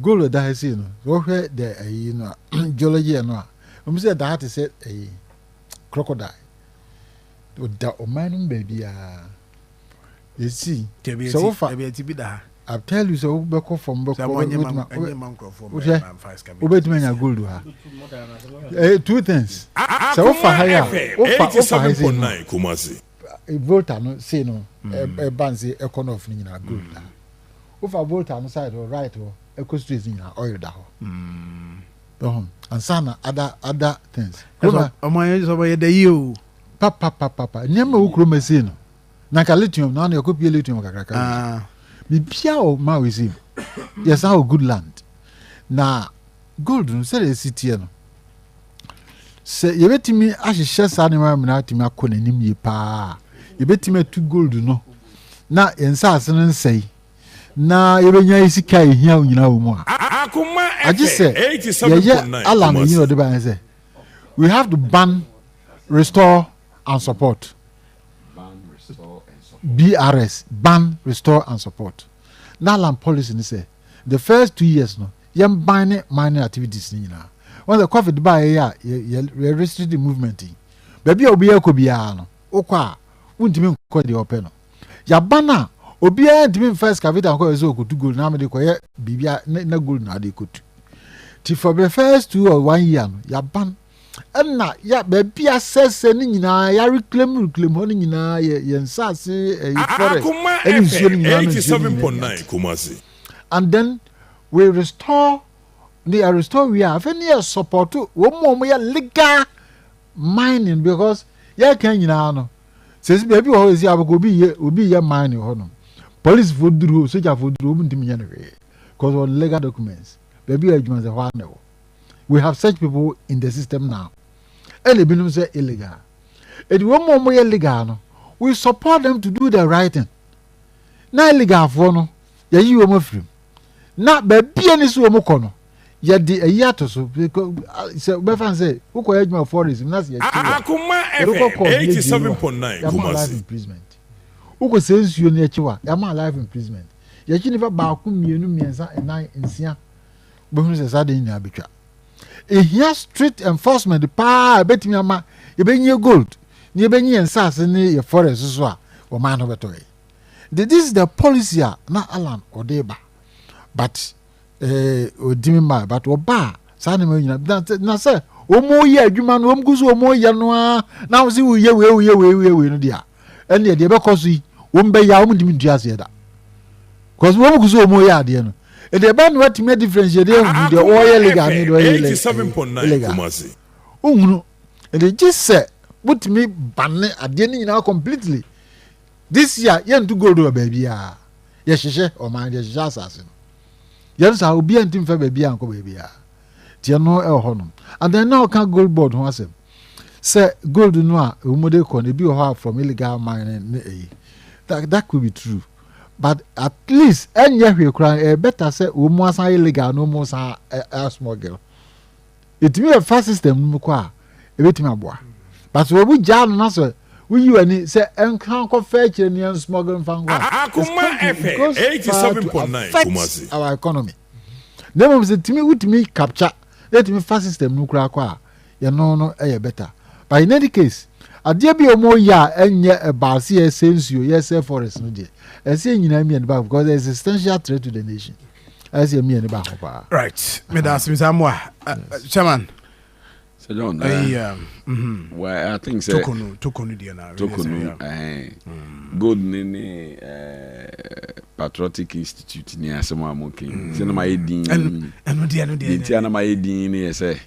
gold da ha sei no wɔhwɛ dɛ ayi no a geology yɛ no a wɔn sɛ da ha te sɛ ayi crocodile ɔda ɔman no mu baabi a yɛsi sɛ wofa I tell you sɛ wobɛkɔ fam bɛkɔ wobɛtumi anya gold ha eh, two things sɛ wofa ha yɛ a wofa wofa ha sei no volta no sei no ɛba nse ɛkɔ nɔf no nyinaa gold ha Wofa Volta no side hɔ right hɔ ɛkɔ streets nyinaa oil da hɔ. Wohu? Ansa na other other things. Kuroma. Ɔmo ayɛ sɛ ɔmo yɛ dɛ yie o. Papapapapa nneɛma ɛwɔ kuroma ɛsei no na nka lithium na ano yɛkɔ pie lithium kakrakra wɔ so. Ah. Biribiara wɔ Maui ɛsei no yɛsan wɔ good land na gold no sɛdeɛ ɛsi teɛ no. sɛ yɛbɛtumi ahyehyɛ saa nneɛma nyinaa atumi akɔ n'anim yie paa yɛbɛtumi atu gold no na yɛn nsaase no nsɛe na yɛbɛnya yi sika a ɛhia nyinaa wɔ mu a agye sɛ yɛyɛ ala no ɛyi na ɔde baɛ sɛ we have to ban restore and support brs ban restore and support na alan policy no sɛ The first two years no, yɛn ban ne mining activities no nyinaa. Wɔn sɛ COVID baa yɛ a yɛ restricted movement yi. Baabi a obiara kɔ biara no, wokɔ a wontumi nkɔ deɛ ɔpɛ no. Yaba no a, obiara ntumi mfa excavator nkɔ yɛ sɛ ɔkɔtu gold na amede kɔyɛ biribi na gold na ade kɔtu. Ti for the first two or one year no, yaba no. Ɛna ya baabi a sɛsɛ ne nyinaa yare klem reklem hɔ no nyinaa yɛ yɛn nsaase ɛyi fɔrɛ ɛne nsuo no nyinaa no nsuo no nyinaa nyinaa Kumasi. And then we restore ne yɛ restore wie a afei ne yɛ support wɔn mu wɔn yɛ legal mining because yɛka nyinaa no sɛsi baabi wɔ hɔ ɛsi abɛkɔ obi yɛ obi yɛ mining hɔ nom policefoɔ duru hɔ sogyafoɔ duru hɔ ɔmo ntumi nyɛ no hwee because wɔn legal documents baabi a adwuma sɛ hɔ anɛ hɔ. we have such people in the system now ɛna ebinom sɛ illegal edi wɔn mu wɔn yɛ legal no we support them to do the right thing na illegalfoɔ no yɛyi wɔn afiri mu na baabi a ne si wɔn kɔ no yɛde ayi ato so sɛ bɛfa sɛ wokɔ yɛ adwuma forest na sɛ yɛkyi wa yɛbɛkɔ kɔ yɛ gye wa yɛama life imprisonment wokɔ sɛ nsuo no yɛkyi wa yɛama life imprisonment yɛkyi nipa baako mmienu mmiɛnsa nnan nsia. wobɛhunu sɛ saa de nyinaa bɛtwa ɛhia strict enforcement paa a ɛbɛtumi ama yɛbɛnyie gold na yɛbɛnyi yɛn nsase ne yɛ forest so a wɔmaa no bɛtɔ yɛ nti this is the policy a na alan ɔde ba but ɔdimi eh, ma but ɔba a saa nneɛma nyina na sɛ wɔn yɛ adwuma no wɔn gu so wɔn yɛ no ara na wɔn sɛ wɔyɛ wei wɔyɛ wei wɔyɛ wei no deɛ a ɛnneɛ deɛ ɛbɛkɔ so yi wɔn bɛyɛ a wɔn ntumi ntua aseɛ da because wɔn gu so wɔn yɛ adeɛ no ɛdeɛ ɛbɛn no atumi ɛ difference yɛ deɛ ehunu deɛ ɔyɛ legal ne deɛ ɔyɛ illegal ohunu ɛdeɛ gye sɛ wotumi bane adeɛ no nyinaa completely this year yɛntu gold wɔ baabi a yɛhyehyɛ ɔman yɛhyehyɛ asase no yɛn saa obi a nti nfa baabi a nkɔ baabi a tiɛ no ɛwɔ hɔ nom and then na ɔka gold board ho asɛm. sɛ gold no a wɔn de kɔ no ebi wɔ hɔ a from illegal mining ne ɛyi that that could be true but at least ɛnyɛ hwee koraa ɛyɛ better sɛ wɔn asan yɛ legal na wɔn san asmuggle ɛtumi yɛ fa system no mu kɔ a ɛbɛtumi aboa but sɛ wɔn gyaa no na sɛ woyi w'ani sɛ ɛnka nkɔfa akyire ne ɛnsmuggle mfa nkɔ a it goes far to affect our economy na mmom sɛ tumi wotumi capture na ɛtumi fa system no koraa kɔ a yɛno no yɛ better but in any case adeɛ bi a wɔn yɛ a ɛnyɛ ɛbaa se yɛsɛ nsuo yɛsɛ forest no deɛ ɛsɛ yɛ nyinaa mmienu baako because there is a substantial threat to the nation ɛsɛ yɛ mmienu baako paa. right meda ase misa mu a chairman. sɛ john ɛyi eh, um, mhm. well i think sɛ tokonu tokonu deɛ na tokonu ɛhɛn mm. gold ne ne eh, patriotic institute ni asɛm a mo kɛn sɛ na ma yɛ din ɛno deɛ ɛno deɛ nti a na ma yɛ din ne yɛ sɛ.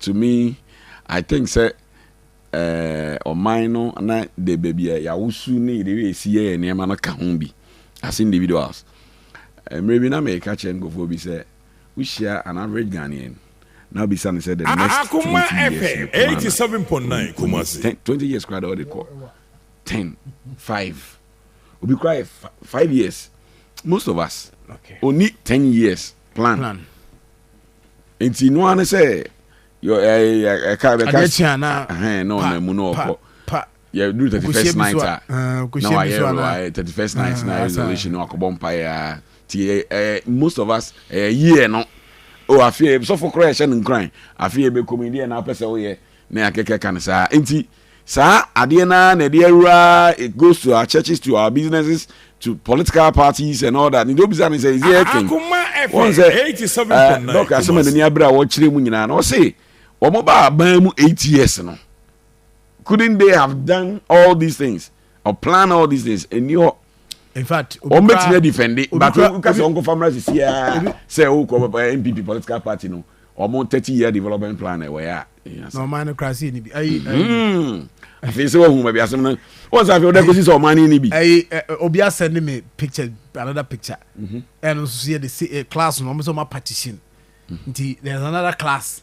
to me I think sɛ eh, ɔman no na de baabi a yɛawosu ne yɛde resi yɛ yɛ nneɛma no ka ho bi as individuals. Mmerɛ bi na meka kyerɛ nkurɔfoɔ bi sɛ wohyia an average Ghanaian na wobisa no sɛ the next 20 years no kwan na ɔnim 10 20 years koraa dɛ ɔde kɔ 10 5 obi koraa yɛ 5 years most of us ɔni 10 years plan. nti no ara ne sɛ ɛka bɛka adeɛ kye a na ɛhɛn na ɔnam mu na ɔkɔ yɛduru thirty first night a na wayɛ wayɛ thirty first night na ayɛ resolution na wakɔbɔ mpaeɛ a ti ɛɛ most of us ɛyɛ yie no o afei sɔfo koraa ɛhyɛ no nkuran afei ɛbɛkɔ mu deɛ na apɛ sɛ woyɛ na yɛakɛkɛ ka no saa nti. Saa adeɛ no ara na ɛde awura it goes to our churches to our businesses to political parties and all that nti obisa ne sɛ is there anything wɔn sɛ ɛɛ dɔk asɛm a n'ani abere a wɔkyerɛ mu nyinaa na ɔse wɔn ba aban mu eight years no couldn't they have done all these things or plan all these things ɛni hɔ in fact wɔn bɛ tìmɛ defend but wúkà sɛ ɔnkɔ famara sisi aa sɛ o kɔ npp political party no wɔn thirty year development plan ɛwɔ yɛ a. na ɔman no kura se ni bi. afei sɛ wahu baabi asɛm no wɔn sɛ afei ɔda kɔsi sɛ ɔman no ni bi. ɛyi obi asɛn ne me picture another picture ɛno nso yɛ de class no wɔn sɛ wɔn apatition nti there is another class.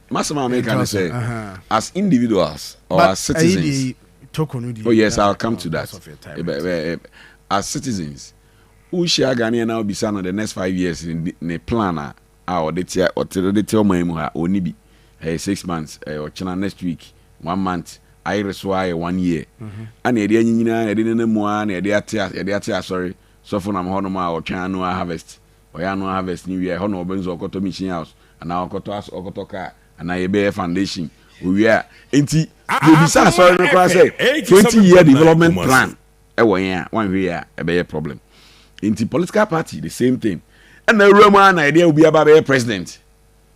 M'asɛm a meka ne sɛ, as individuals or as citizens, oh yes, I'll come to that, as citizens, wohyia Ghanaian na wobisa no the next five years ne plan a a ɔde tea ɔte de tea ɔman mu ha ɔnni bi ɛyɛ six months ɛyɛ ɔkyena next week one month ayere so ara yɛ one year ana yɛde anyinyina yɛde nana mu ara na yɛde ate yɛde ate asɔre sɔfo nam hɔnom a ɔtwɛn annual harvest Ɔyɛ annual harvest no wie a, ɛhɔ na wɔbɛn sɛ ɔkɔtɔ machine house anaa ɔkɔtɔ as ɔkɔtɔ car anaa yɛbɛyɛ foundation. Owie a, nti yɛbisa asɔre no koraa sɛ twenty year development plan wɔ yɛn a, wanhwɛ yie a ɛbɛyɛ problem. Nti political party the same thing. Ɛna awura mu ara na yɛde obi aba abɛyɛ president.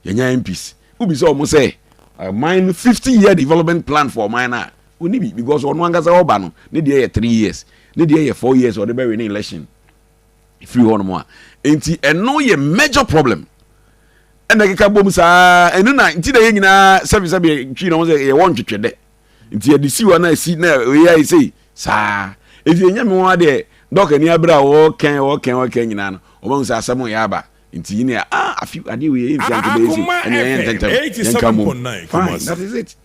Yɛnya MPs. Wobisa wɔn sɛ ɔman no fifty year development plan for ɔman no a, ɔnni bi because ɔno ankasa ɔba no ne deɛ yɛ three years, ne deɛ yɛ four years a ɔde bɛwene election. firi hɔnom a nti ɛno yɛ major problem ɛna ɛkeka bom saa ɛno na nti na yɛ nyinaa sɛbisɛbi twi na wɔn sɛ yɛwɔ ntwetwe dɛ nti yɛde si hɔ na esi na ɛyɛ ayɛ sei saa efi ɛnyɛ mi wɔn adeɛ dɔk ani abere a wɔkɛn wɔkɛn wɔkɛn nyinaa no wɔn sɛ asɛm yɛ aba nti yi na ah afi adeɛ wei yɛ nfi anke bɛyɛ si ɛna yɛn ntɛntɛm yɛn ka mu fine that is it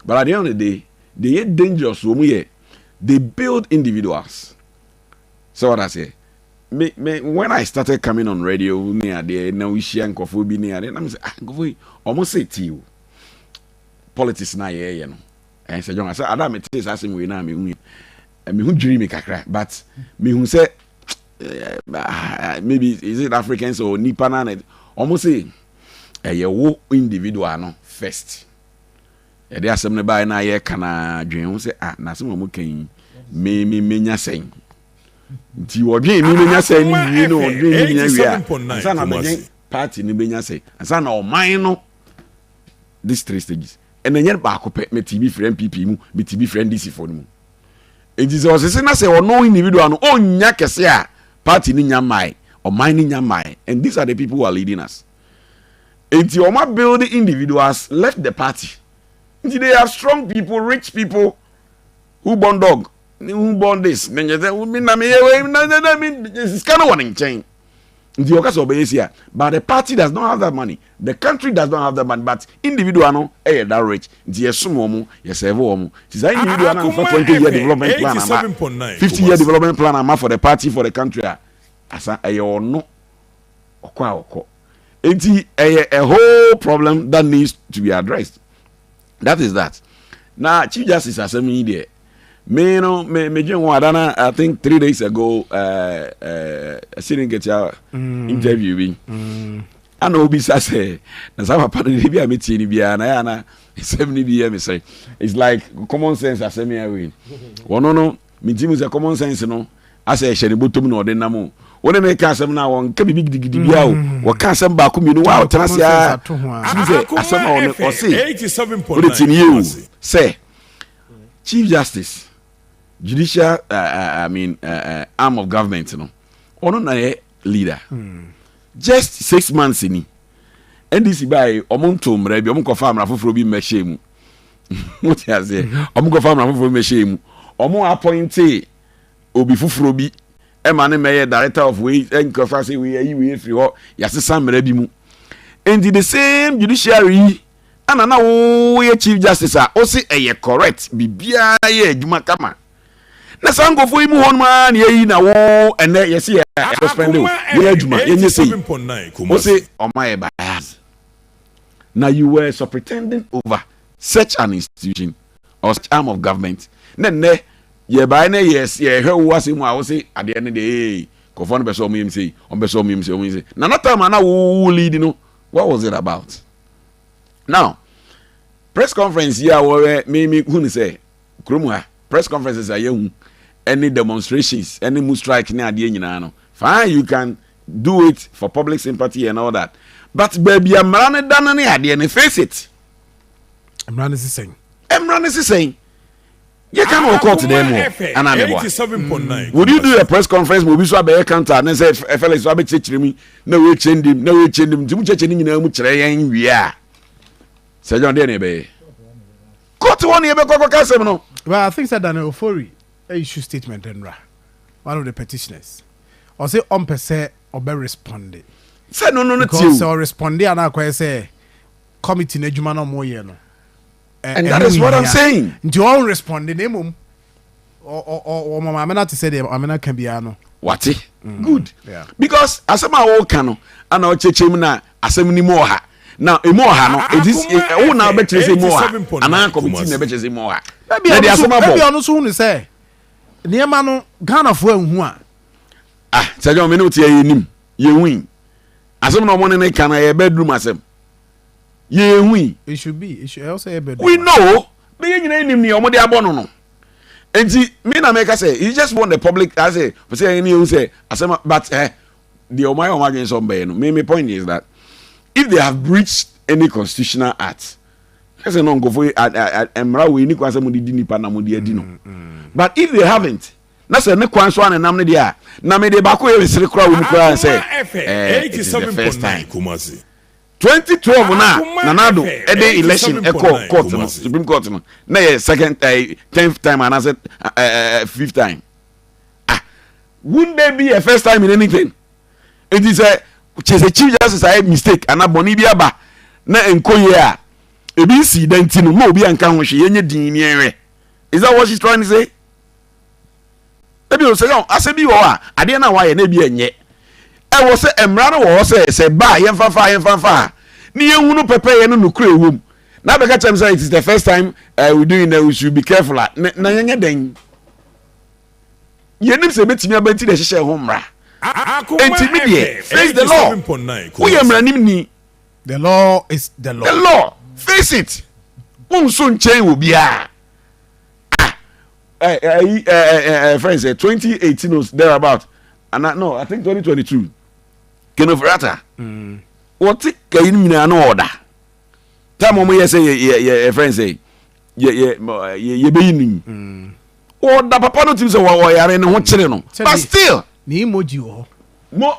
but at the end of the day they yɛ dangerous wɔn yɛ they build individuals. Sɛ wate aseɛ? Me, me, when I started coming on radio ne adeɛ na wohyia nkurɔfoɔ bi ne adeɛ na me sɛ, ah, nkurɔfoɔ yi, wɔn se ti o. Politics na yɛyɛ no. Ɛn sɛ John, sɛ ada a metee saa asɛm wei no a mehu mehu dwiri me kakra but mehu sɛ Eh, eh, maybe is it Africans or nipa na wɔn say ɛyɛ wo individual no first Yɛde asɛm no baeɛ na yɛka na dwen ho sɛ, ah, n'asɛm a wɔka yi, me me menya sɛn? Nti wɔdwen me menya sɛn no wie no, wɔdwen me nya wie a, ansa na bɛdwen party no benya sɛn, ansa na ɔman no, these three stages. Ɛna ɛnyɛ baako pɛ, me ti bi firi NPP mu, me ti bi firi NDC fo no mu. Nti sɛ ɔsese na sɛ ɔno individual no, ɔnnya kɛse a party no nya mmae, ɔman no nya mmae, and these are the people who are leading us. Enti wɔn a build individuals left the party nti they are strong people rich people who born dog ne who born this ne nyɛ sɛ mi na mi yɛ wei na na na mi sika no wɔ ne nkyɛn nti ɔka sɛ ɔbɛyɛ si a but the party does not have that money the country does not have that money but individual no ɛyɛ that rich nti yɛ som wɔn yɛ serve wɔn nti saa individual na nfa twenty year development plan ama fifty year development plan ama for the party for the country a asa ɛyɛ ɔno. ɔkɔ a ɔkɔ nti ɛyɛ a whole problem that needs to be addressed that is that na chief justice asɛm yi deɛ me no me me dwen ho adana i think three days ago ɛɛ ɛɛ ɛsiri nketewa mm. interview bi mm. ana obi sa sɛ na saa papa no de bi a me tie ni biara na yɛ ana nsɛm ni bi yɛ me sɛ it's like common sense asɛm yɛ wei wɔn no. Migye mu sɛ common sense no asɛ ɛhyɛ ne bɔtɔm na ɔde nam o. Wo ne no reka asɛm no a, ɔnka biribi gidigidi biara o. Mm. Wɔka asɛm baako mmienu, wo a wotena ase a, tumi sɛ asɛm a ɔne ɔse, wode tie no yie o, sɛ Chief Justice, judicial uh, uh, I mean, uh, uh, arm of government no, ɔno na yɛ leader. Mm. Just six months ni. NDC bae, ɔmo ntoo mmara bi, ɔmo nkɔfa mmara foforɔ bi mmɛhyɛ mu. mo te aseɛ ɔmo mhm. kɔfa mmara foforɔ mmɛhyɛ mu ɔmo apɔinte obi foforɔ bi ɛma ne mɛyɛ director of wei nkɔfa sɛ wei ayi wei efiri hɔ yasesa mmara bi mu nti the same judiciary yi ɛna na woyɛ chief justice a ɔsi ɛyɛ correct biribiara yɛ adwuma kama na saa nkɔfoɔ yi mu hɔ nom ara na yɛyi na wo ɛnɛ yɛsi yɛ ɛfɛ spɛnde o yɛ adwuma yɛnyɛ sei ɔsi ɔmo ayɛ bias. na you were supretending over such an institution or such arm of government na nnɛ yɛbaeɛ na yɛs yɛhwɛ wo asɛm mu a wose adeɛ no deɛ ee nkurɔfoɔ no bɛ sɛ ɔmo yɛm sei ɔmo bɛ sɛ ɔmo yɛm sei ɔmo yɛm sei na na time a na wo wo lead no what was it about now press conference yi a wɔyɛ me me hu no sɛ Kurom ha, press conferences a yɛahu ne demonstrations ne mu strike ne adeɛ nyinaa no, fine you can do it for public sympathy and all that but baabi a mmara no da no ne adeɛ no face it. Mmara no si sɛn? Mmara no si sɛn? yɛ ka no wɔ court dɛn mu ana ne boa would you do a press conference ma obi so abɛyɛ counter ne sɛ felix so abɛkyerɛkyerɛ mu na wɔakyɛ ndim na wɔakyɛ ndim nti mu kyɛkyɛ no nyinaa mu kyerɛ yɛn wie a sɛ john deɛ ne ɛbɛyɛ Court hɔ na yɛbɛkɔ akɔka asɛm no. Well I think sɛ Daniel Ofori issue statement mmra, one of the petitioners, ɔse ɔmpɛ sɛ ɔbɛ responde. Sɛ no no no tie o. Because sɛ ɔresponde a na akɔyɛ sɛ committee no adwuma na ɔmo yɛ no ɛho nhia. And that is what I'm saying. Nti ɔnresponde na mmom wɔn maame no ate sɛ deɛ maame no aka biara no wate mm, good because asɛm a wɔka no ana ɔkyɛkyɛ mu na asɛm no mu ɔha na emu ɔha no ɛdi ɛwo na ɔbɛkyerɛ sɛ emu ɔha anaa kɔmiti na ɛbɛkyerɛ sɛ emu ɔha na ɛde asɛm abɔ ɛbi ɔno so hu ne sɛ nneɛma no ghanafoɔ anhu a ah sɛ gyɔn mi ne o ti yɛ yɛ nim yɛ hu yi asɛm na ɔmo ne ne ka na yɛ bɛ dum asɛm. yɛyɛ hui. It should be, it should, ɛwɔ sɛ yɛ bɛ We know, bɛyɛ nyina nim neɛ wɔde abɔ no no. Nti, me na mɛka sɛ, you just want the public, I say, pɛ sɛ ɛne yɛhu sɛ, asɛm, but, eh, deɛ wɔn ayɛ wɔn adwene sɛ wɔbɛyɛ no, me, me point is that, if they have breached any constitutional act, kɛsɛ no nkɔfo yi, mmara wei ni kwan sɛ mo de di nipa na mo de adi no. Mm, mm. But if they haven't, na sɛ ne kwan so a ne nam ne deɛ a na mede baako yɛ resere koraa wɔ mu koraa sɛ ɛɛ eh, eh, it is the first time Twenty twelve na Nana Addo de election kɔɔ court no, Supreme Court no, na yɛ second ɛɛ tenth time anaasɛ ɛɛ fifth time. Ah, wouldn't there be a first time in anything? Nti sɛ kyerɛ sɛ Chief Justice ayɛ mistake anaa bɔne bi aba na nkɔ yie a, ebi nsii da nti no, ma obi anka ho hwee, yɛnyɛ dinn ne yɛnhwɛ. Is that what she's trying to say? ebi o sɛ yɛn asɛ bi wɔ hɔ a adeɛ no a wɔayɛ no ebi ɛnyɛ ɛwɔ sɛ mmara no wɔ hɔ sɛ sɛ ba a yɛmfa fa yɛmfa fa a ne yɛhunu pɛpɛyɛ no nokorɛ ɛwɔ mu na bɛka kyerɛ m sɛ it is the first time uh, we doing that we should be careful a na yɛnyɛ dɛn yɛnim sɛ ɛbɛtumi aba nti na ɛhyehyɛ ho mmara nti me deɛ face the law woyɛ mmaranim ni the law is the law the law face it wonso nkyɛn wɔ biara Ɛ ɛ ɛyi ɛ ɛ ɛ ɛ fɛn sɛ twenty eighteen o there about ana no I think twenty twenty two Kenneth Ofori-Atta wɔte kayi no nyinaa na ɔda tam wɔn yɛ sɛ yɛ yɛ yɛ yɛ fɛn sɛ yɛ yɛ yɛ yɛ bɛyi ne mu ɔda papa no tiri sɛ wɔ ɔyare ne ho kyerɛ no Sɛ but ne- still ne emoji wɔ hɔ mo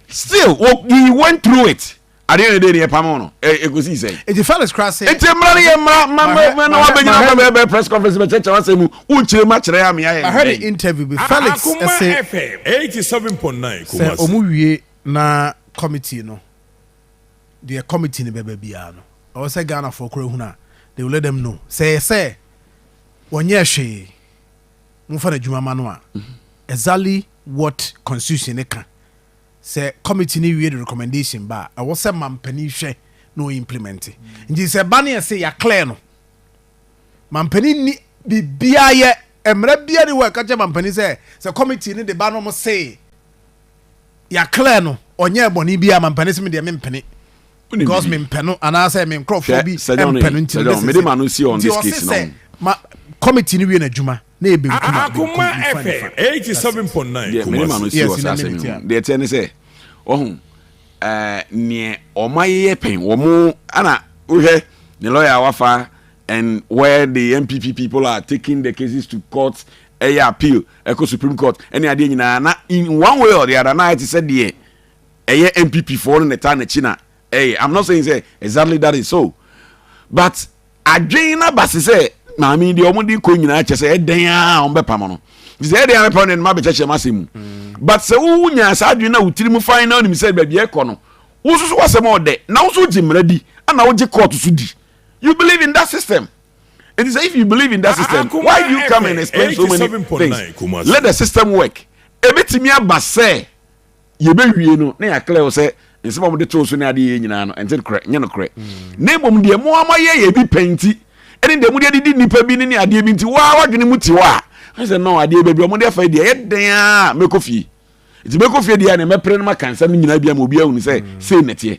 still wɔ he went through it Adeɛ na ɛdɛ ni ɛpamoo no ɛkɔsii sɛn? Eti Felix kora se. Eti mmara no yɛ mmara ma ma na wabɛgyina ama bɛyɛ bɛyɛ press conference bɛkyerɛkyerɛ w'asɛm mu wonkyerɛ mu akyerɛ ama yɛayɛ. Mahwɛ ne interview bi Felix se sɛ ɔmo wie na committee no deɛ committee no bɛba biara no ɛwɔ sɛ Ghanafoɔ kora hunu a they will let them know sɛ ɛyɛ sɛ wɔnyɛɛ hwee momfa no adwuma ma no a exactly what constitution no ka Sɛ committee no wie de recommendation ba a, ɛwɔ sɛ mampanin hwɛ na ɔ implement. Nti sɛ ɛba ne yɛse yɛ clear no, mampanin nni biribiara yɛ. Mmara biara ni hɔ a ɛka kyerɛ mampanin sɛ sɛ committee no de ba na wɔse yɛ clear no, ɔnyɛɛ bɔne biara, mampanin se me deɛ mempene because mempɛ no anaasɛ me nkurɔfoɔ bi mpɛ no nti no. Nti ɔse sɛ ma committee no wie n'adwuma. na yɛ benkum a, benkum, nifa, nifa. Deɛ mede ma no si wɔ saa asɛm yi ho, deɛ ɛteɛ ne sɛ, wahu, eh, neɛ wɔayeyɛ pɛn, wɔn, ɛna wohwɛ ne lawyer a wafa and where the NPP people are taking the cases to court, ɛyɛ appeal, ɛkɔ Supreme Court, ɛne adeɛ nyinaa, na in one way or the other, na ayɛ te sɛ deɛ ɛyɛ NPP foɔ no na ɛtaa n'akyi na Ei am not saying sɛ exactly that is so but adwen no aba se sɛ maame yi deɛ wɔn de kɔ nyinaa kyɛ sɛ ɛdɛn a wɔn bɛ pam no nti sɛ ɛdɛn a bɛ pam no ɛnum abɛkyɛkyɛ mu asɛm mu mm. but sɛ wo nya saa adwen na wo tiri mu fan na onim sɛ baabi ɛkɔ no wo soso wasɛm ɔdɛ na wo so gye mmara di ɛna wo gye court so di you believe in that system. It is if you believe in that ah, system, ah, why do you come and explain so many things? Let the system work. Ebetimi abase. yɛbɛwie no na yɛaklɛ wo sɛ nsɛm a wɔde too so ne adeɛ yɛ nyinaa no ɛnte korɛ nyɛ nokorɛ mm. na mmom deɛ mo ama yɛ yɛ bi pɛ nti ɛne deɛ mode adidi nnipa bi ne ne adeɛ bi nti waa wadwene mu te hɔ a ɛne sɛ nɔ adeɛ baabi ɔmode afa deɛ ɛyɛ dɛn a mɛkɔ fie nti mɛkɔ fie deɛ a ne mɛpere no maka nsɛm no nyinaa bi ama obiaa hunu sɛ mm. sei nɛteɛ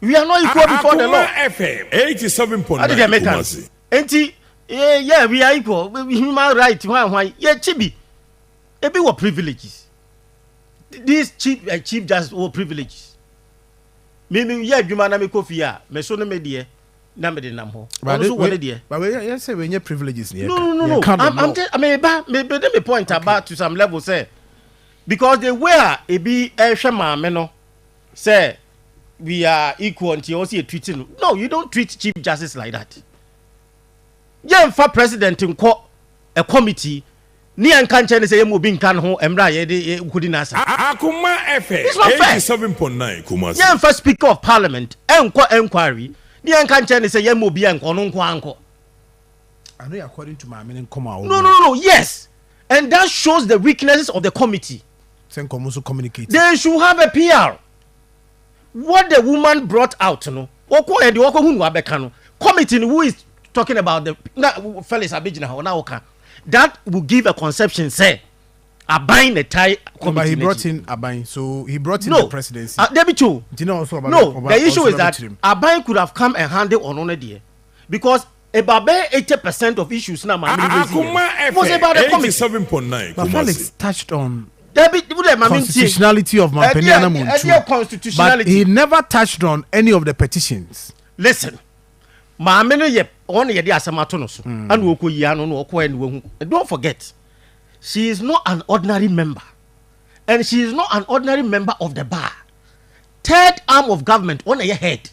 we are not equal before the law. Akuma FM eighty seven point nine Kumasi. Nti eh, yeah we are equal human rights hwan hwan yɛ kyi bi ebi wɔ privileges this chief uh, chief just wɔ privileges mi mi yɛ adwuma na mi kɔ fie a mi so ne mi deɛ na mi de nam hɔ ɔno so wɔ ne deɛ. But we yɛ sɛ we nye privileges ni yɛ ka. No no no no I'm I'm just mi ba mi bi de mi point aba to some level sɛ. Because the way a ebi ɛhwɛ maame no sɛ we are equal nti ɔwɔ sɛ yɛ treat no no you don't treat chief justice like that yɛn fa president nkɔ a committee ne yɛn nka nkyɛn ne sɛ yɛn mu obi nka ne ho mmerɛ a yɛde nkodi n'asa. Akoma ɛfɛ eighty seven point nine Kumasi. Yɛn fa speaker of parliament ɛnkɔ enquiry ne yɛn nka nkyɛn ne sɛ yɛn mu obi a nkɔ ɔno nko ara nkɔ. I know according to maame ne nkɔmɔ a wɔn. No no no yes and that shows the weaknesses of the committee. Sɛ nkɔmɔ nso communicate. They should have a PR. What the woman brought out no wɔkɔ yɛ de wɔkɔ hu no abɛka no committee no who is talking about the na Felix abegyina hɔ na wɔka that will give a conception sɛ aban na tie committee. No, but he brought in aban so he brought in no. the presidency. Uh, David Cho. No, the issue is that aban could have come and handle ɔno ne deɛ because About bɛyɛ eighty percent of issues na maame no raise yɛ no was about the committee. seven point nine kumasi. Mahalix touched on. Dabi wo dɛ maame n tie. constitutionality of Mampanin Anamu Ntu but he never touched on any of the petitions. Listen maame no yɛ wɔn na yɛde asɛm ato no so hmm. ɛna ɔkɔ yia no na ɔkɔ ɛna wahu don't forget she is not an ordinary member and she is not an ordinary member of the bar third arm of government wɔn na yɛ head.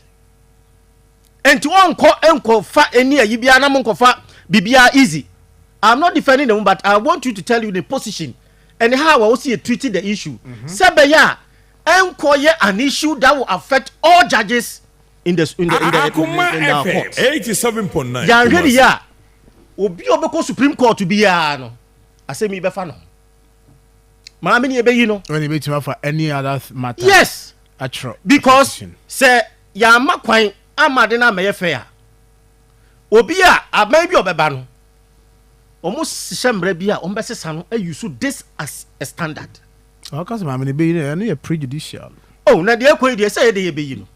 Enti wɔnkɔ nkɔfa ɛni ayi biara na monkɔfa biribiara easy. I'm not defending the woman but I want you to tell you the position and how I also treating the issue. Mm -hmm. Sɛ bɛyɛ a ɛnkɔ yɛ an issue that will affect all judges in the in the in the, in the, in the, in the court. 87.9. Yɛanhwɛ ne yɛ a obi a ɔbɛkɔ Supreme Court biara no asɛm yi bɛfa no ho maame ni ebe yi no. wọ́n ní ebetumi afa any other matter. yes atwerɛ. because sɛ yɛamma kwan amma ade no ammɛyɛ fɛ a, obi a aban bi a ɔbɛba no, wɔhyehyɛ mmara bi a wɔbɛsesa no ayi so this as a standard. Na ɔka sɛ maame no bɛyi no, ɛno yɛ prejudicial. Oh, na deɛ ɛkɔ yi deɛ sɛ yɛ deɛ yɛbɛyi no.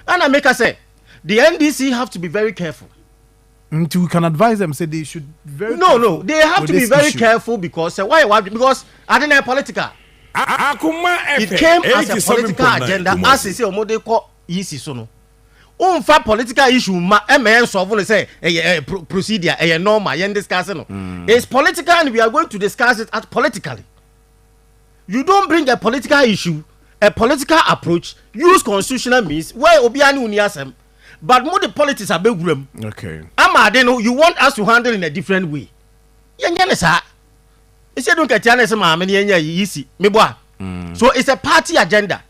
Ɛna meka sɛ, the NDC have to be very careful. nti we can advise them say they should be very no no careful they have with to be this very issue. careful because sɛ wayɛ wadwene because ade na yɛ political Akoma it ɛpɛ, came eyi as te a sɛ me political mpɔnna agenda as Kumasi. sɛ wɔn de kɔ yisi so no wonfa political issue ma ɛma yɛn nsɔfo no sɛ ɛyɛ ɛyɛ pro- procedure ɛyɛ normal yɛn discuss no it's political and we are going to discuss it at politically you don't bring a political issue a political approach use constitutional means where obiara ne oni asɛm but mo de politics abɛwura mu okay. ama ade no you want us to handle in a different way yɛnyɛ ne saa ɛsɛ du nkatia no ɛsɛ maame no yɛnyɛ yi si mebɔ a mm. so it's a party agenda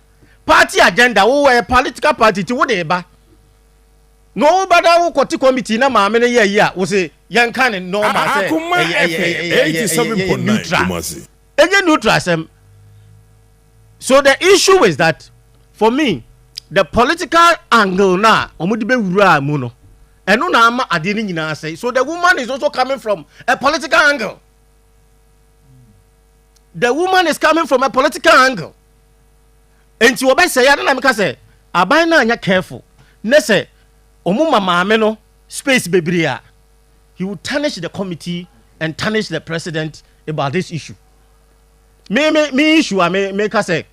party agenda wo wɔ political party ti wo de ba na wo ba na wo kɔte committee na maame no yɛ yi a wo se yɛnka ne normal sɛ ɛyɛ neutral Ɛnyɛ neutral asɛm. So the issue is that for me the political angle no a wɔde bɛwuraa mu no ɛno na ama adeɛ no nyinaa sɛe. So the woman is also coming from a political angle. The woman is coming from a political angle. Nti wɔbɛsɛe ade na meka sɛ aban no anyɛ careful ne sɛ wɔn ma maame no space bebree a he will tarnish the committee and tarnish the president about this issue me me me issue a me me ka sɛ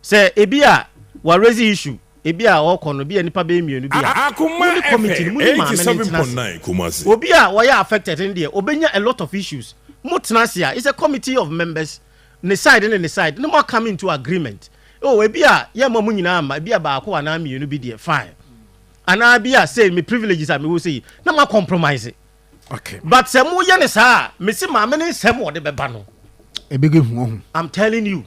sɛ ebi a wa raise issue ebi a ɔkɔ no ebi a nipa bɛyɛ mmienu bi a mo ne committee no mo ne maame no ntena ase obi a wɔyɛ affected no deɛ obɛnya a lot of issues mo tena ase a it's a committee of members ne side ne ne side ne mo come into agreement oh ebi a yɛ ma mo nyinaa ma ebi a baako anaa mmienu bi deɛ fine. anaa bi a sei me privileges a mewɔ sei na ma compromise okay but sɛ mo yɛ ne saa a me se maame ne nsɛm ɔde bɛba no ebe ge hu ɔho i'm telling you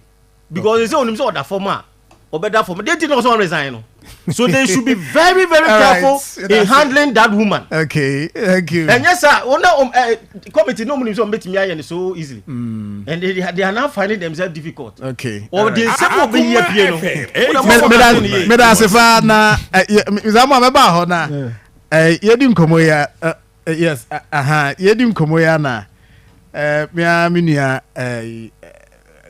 because sɛ onim sɛ ɔda fam a ɔbɛda fam deɛ ti na ɔsɛ ɔresign no so they should be very very careful right, in handling it. that woman okay thank you ɛnyɛ saa wɔn na committee no munim sɛ ɔmo betumi ayɛ no so easily and they, they are now finding themselves difficult okay ɔde nsɛm a ɔbɛyi apue no meda ase fa na saa mu a mɛba hɔ na yɛdi nkɔmmɔ yi a yes aha yɛdi nkɔmmɔ yi a na mea me nua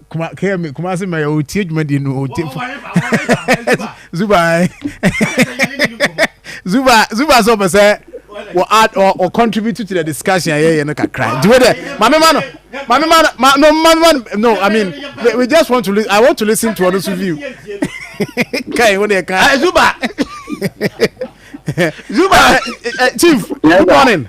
kuma kɛyɛ mi kuma se mɛyɛ o tie dwumadie no o tie fo zuba ɛ zuba zuba sɛ ɔpɛ sɛ wɔ add or or contribute to the discussion yɛ yɛ no kakra nti wo dɛ maame ma no maame ma no ma no maame ma no no i mean we, we just want to listen i want to listen to ɔno so view kai wo dɛ kai zuba zuba eh, eh, eh, chief good morning.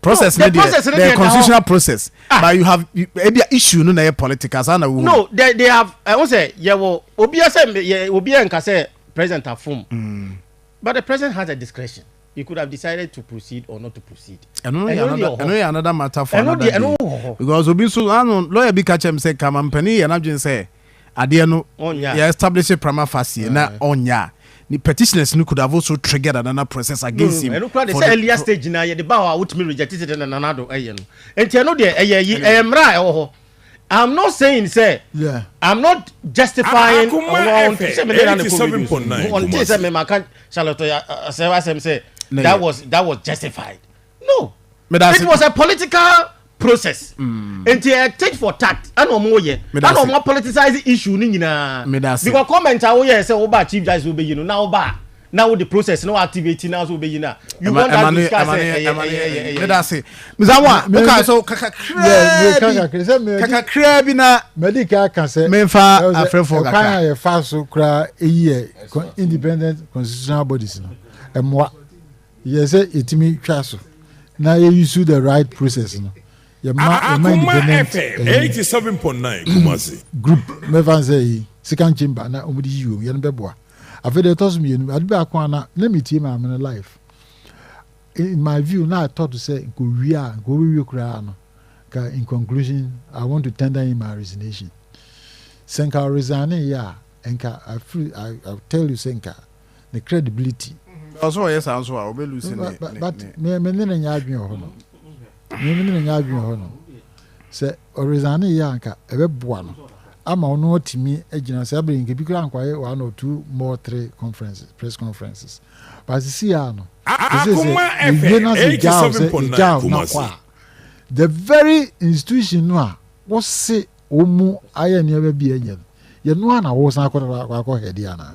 process no deɛ the constitutional process ah. but you have ebi issue no na yɛ political saa na wo. no they they have ɛho eh, sɛ yɛ wɔ obi ɛsɛ yɛ obi yɛ nka sɛ president afum hmm. but the president has a discretion he could have decided to proceed or not to proceed. ɛno yɛ another ɛno yɛ another matter for another day because obi nso ano lawyer bi ka kyɛm sɛ kama mpanyin yɛ n'adwene sɛ. adeɛ no yɛ establish prima facie na ɔnyɛ a ne petitioners no could have also triggered another process against him. ɛno kura de sɛ earlier stage na yɛde ba hɔ a wotumi reject it na nana do ɛyɛ no nti ɛno deɛ ɛyɛ yi ɛyɛ mmerɛ a ɛwɔ hɔ i'm not saying sɛ yeah. i'm not justifying ɔwɔ ɔnte sɛ mede na ne kɔ reduce ɔnte sɛ mema ka charlotte asɛm asɛm sɛ that was that was justified no it was a political process nti ɛ tit for tat ɛna ɔmo yɛ ɛna ɔmo politicize issue ne nyinaa because comment a woyɛ sɛ wobaa chief justice wobɛyi no na wobaa na wode process na activate na so wobɛyi no a you want that to scar sɛ ɛyɛ ɛyɛ ɛyɛ medase mesa wo a wokaa so kakakraa bi kakakraa bi na madi ka ka sɛ memfa afrɛfoɔ kakra ɛkwan a yɛfa so koraa ɛyi yɛ independent constitutional bodies no ɛmmoa Yɛ sɛ yɛtumi twa so na yɛ use the right process no. Yɛma yɛma independent ɛyi group mɛfa nsɛ yi second chamber na wɔn de yi wɔn yɛn bɛboa. Afei deɛ ɛtɔ so mmienu ade baako a na na metie maame no life. In my view na I thought sɛ nkɔwie a nkɔwie koraa no ka in conclusion I want to tender in my resignation. Sɛ nka ɔresigne yɛ a nka I feel I, I tell you sɛ nka ne credibility. Ɔsɛ ɔyɛ saa nso a ɔbɛ lose ne ne. But me me ne ne nyɛ adwene wɔ hɔ no me me ne ne nyɛ adwene wɔ hɔ no sɛ ɔresign yɛ anka ɛbɛ boa no ama ɔno atumi agyina saa bere nkebi kura nkwaye one or two more three conferences press conferences but sisi a no ɛsɛ sɛ yɛwie na sɛ gyaw sɛ gyaw na kɔ a the very institution no a wɔse wɔn mu ayɛ nneɛma bi ɛnyɛ no yɛn no a na wɔsan akɔ akɔ hɛde anaa.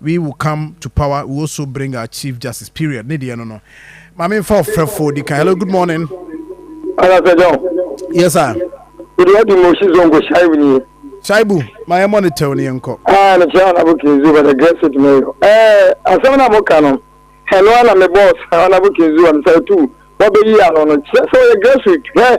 we will come to power we also bring our chief justice period ne deɛ no no maame nfa ɔfrɛfoɔ di kan hello good morning. anasɛ dɛn. yes sir. wòde wadi mu osi zongo shaibu ni ye. shaibu ma yɛ mɔ ne tɛw ne yɛ nkɔ. aa ne kyerɛ ɔnabo kinzu bɛ de gɛsit ne yɔ ɛɛ asɛm na mo ka no ɛno ana me bɔs ɔnabo kinzu ɔno sɛ etu wɔbɛyi ano no kyerɛ sɛ ɔyɛ gɛsit hwɛ.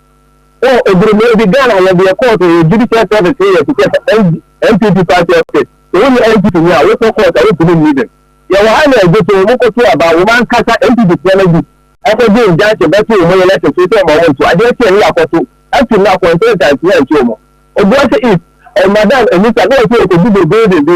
Wɔ ebere mu ebi Ghana yɛ deɛ court yɛ judicial service yɛ te sɛ NPP party office sɛ wonni NPP ni a wokɔ court a wontumi nni bem yɛwɔ ha na ɛgye so wɔn kɔto aba wɔn ankasa NPP foɔ no bi ɛkɔgye injunction bɛto wɔn yɛ lɛsɛ so sɛ wɔn nto adeɛ kyeɛ ne yɛakɔto afi mu akɔntɛnta ntumi anto wɔn Obuasi East ɛmadan Anita na wɔsɛ wɔkɔdi bɛ building bi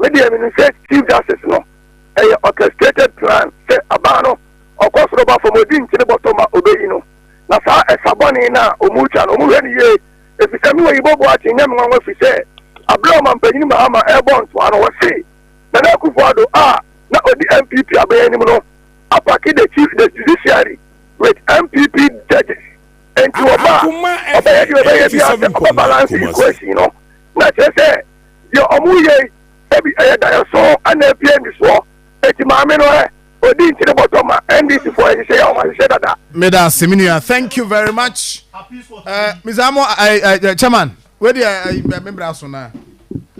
Me deɛ menim sɛ chief justice no ɛyɛ orchestrated plan sɛ abaa no ɔkɔ soro ba fam ɔdi nkyene bɔtɔ ma ɔbɛyi no na saa ɛsa bɔne no a ɔmutwa no ɔmohwɛ no yie ɛfisɛ me Oyibo Boakye nyɛ me nwanwa fisɛ aberɛ a ɔmampanyini Mahama ɛɛbɔ ntoa no ɔse Nana Akufo Addo a na ɔdi NPP aban anim no apake the chief the judiciary with NPP judges enti ɔba a ɔbɛyɛ deɛ ɔbɛyɛ biara sɛ ɔbɛ balance equation no na kyerɛ sɛ Deɛ ɔmo reyɛ yi ebi ɛyɛ daeɛso anaa ebi yɛ nisoɔ? Eti maame no ɛ? Odi nti ne bɔtɔ ma NDC foɔ ɛhyehyɛ yɛ ɔmo ahyehyɛ dada. Meda ase me nua thank you very much eh, Miss Amo eh, eh, Chairman wei deɛ eh, me bra so na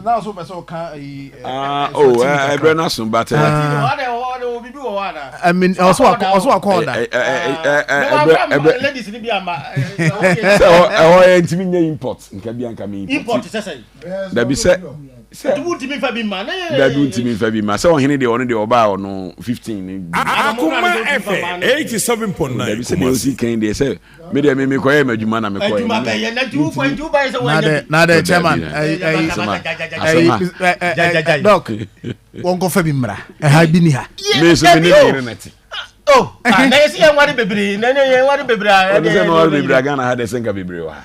na ɔso pɛ sɛ ɔka ayi ɛso ti mi kakra ɛbrɛ no aso but ɔso akɔ ɔda ɛhɔ yɛ ntumi nyɛ import nka bi anka mi import sɛ sɛ dabi sɛ sɛ dabi wontumi nfa bi mma sɛ ɔhene deɛ ɔno deɛ ɔbaa ɔno fifteen ne bi. akoma ɛfɛ eighty seven point nine. dabi sɛ deɛ osi kan deɛ sɛ mi deɛ mi mi kɔ yɛ ma adwuma na mi kɔ yɛ. nadɛ nadɛ chairman ɛyi ɛyi ɛyi dɔk wɔn kɔ fɛ bi mra ɛha bi ni ha. mi nso mi ni mi yɛrɛ na ti. Oh, na yɛ si yɛn wari bebree na yɛn wari bebree. ɔni sɛ mi wari bebree a Ghana ha dɛ sɛ nka bebree wɔ ha.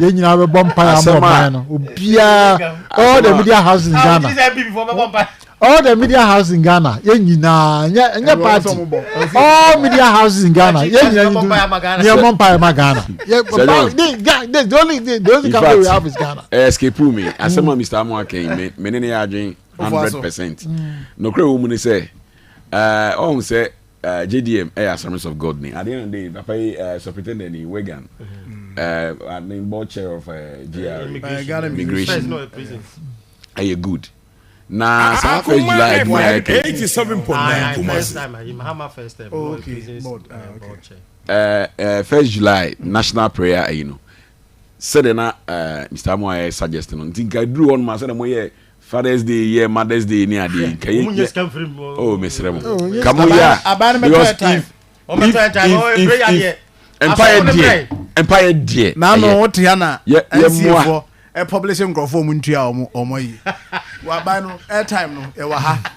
yɛn nyinaa bɛbɔ mpae ama ɔman no obiara all the media house in ghana all the media house in ghana yɛn nyinaa nyɛ nyɛ party all media houses in ghana yɛn nyinaa nyi du yɛn bɔ mpae ma ghana yɛ the the only the only country we have is ghana. ɛ escape mi asɛm a mr amu akɛn mi ne ne yɛ adwene hundred percent nokura wo mu ni sɛ. Eh, ɔhu sɛ eh, JDM ɛyɛ Assemblies of God ni. At the end of the day, papa yi eh, superintendent ni Wigan. Mm-hmm. Eh, I mean board chair of eh, GRA. Eh, immigration. immigration. No, prisons. Ɛyɛ good. Na ah, ah, saa ah, first July ɛdi na ɛkɛ. Eighty seven point nine Kumasi. First time, Mahama first time. Oh, okay. Board, uh, okay. board chair. Uh, uh, first July national prayer, you know. Sɛdeɛ na uh, Mr. Amoa yɛ suggest no, nti nka duru hɔ no ma sɛdeɛ mo yɛ Father's Day yɛ Mother's Day ni ade yi nka yɛ. Wɔn nyɛ sika nfiri mu. Oh mesrɛ mo. Ka mo yɛ a. Aban no bɛtɔ yɛ time. Wɔn bɛtɔ yɛ time. Wɔn ebire yɛ adeɛ. Mpaeɛ deɛ. Mpaeɛ deɛ. Naanu wote ha na. Yɛ yɛ mua. Ɛpɔblese nkurɔfoɔ wɔn ntua wɔn wɔn yi. Wɔ aban no airtime no yɛ wɔ ha.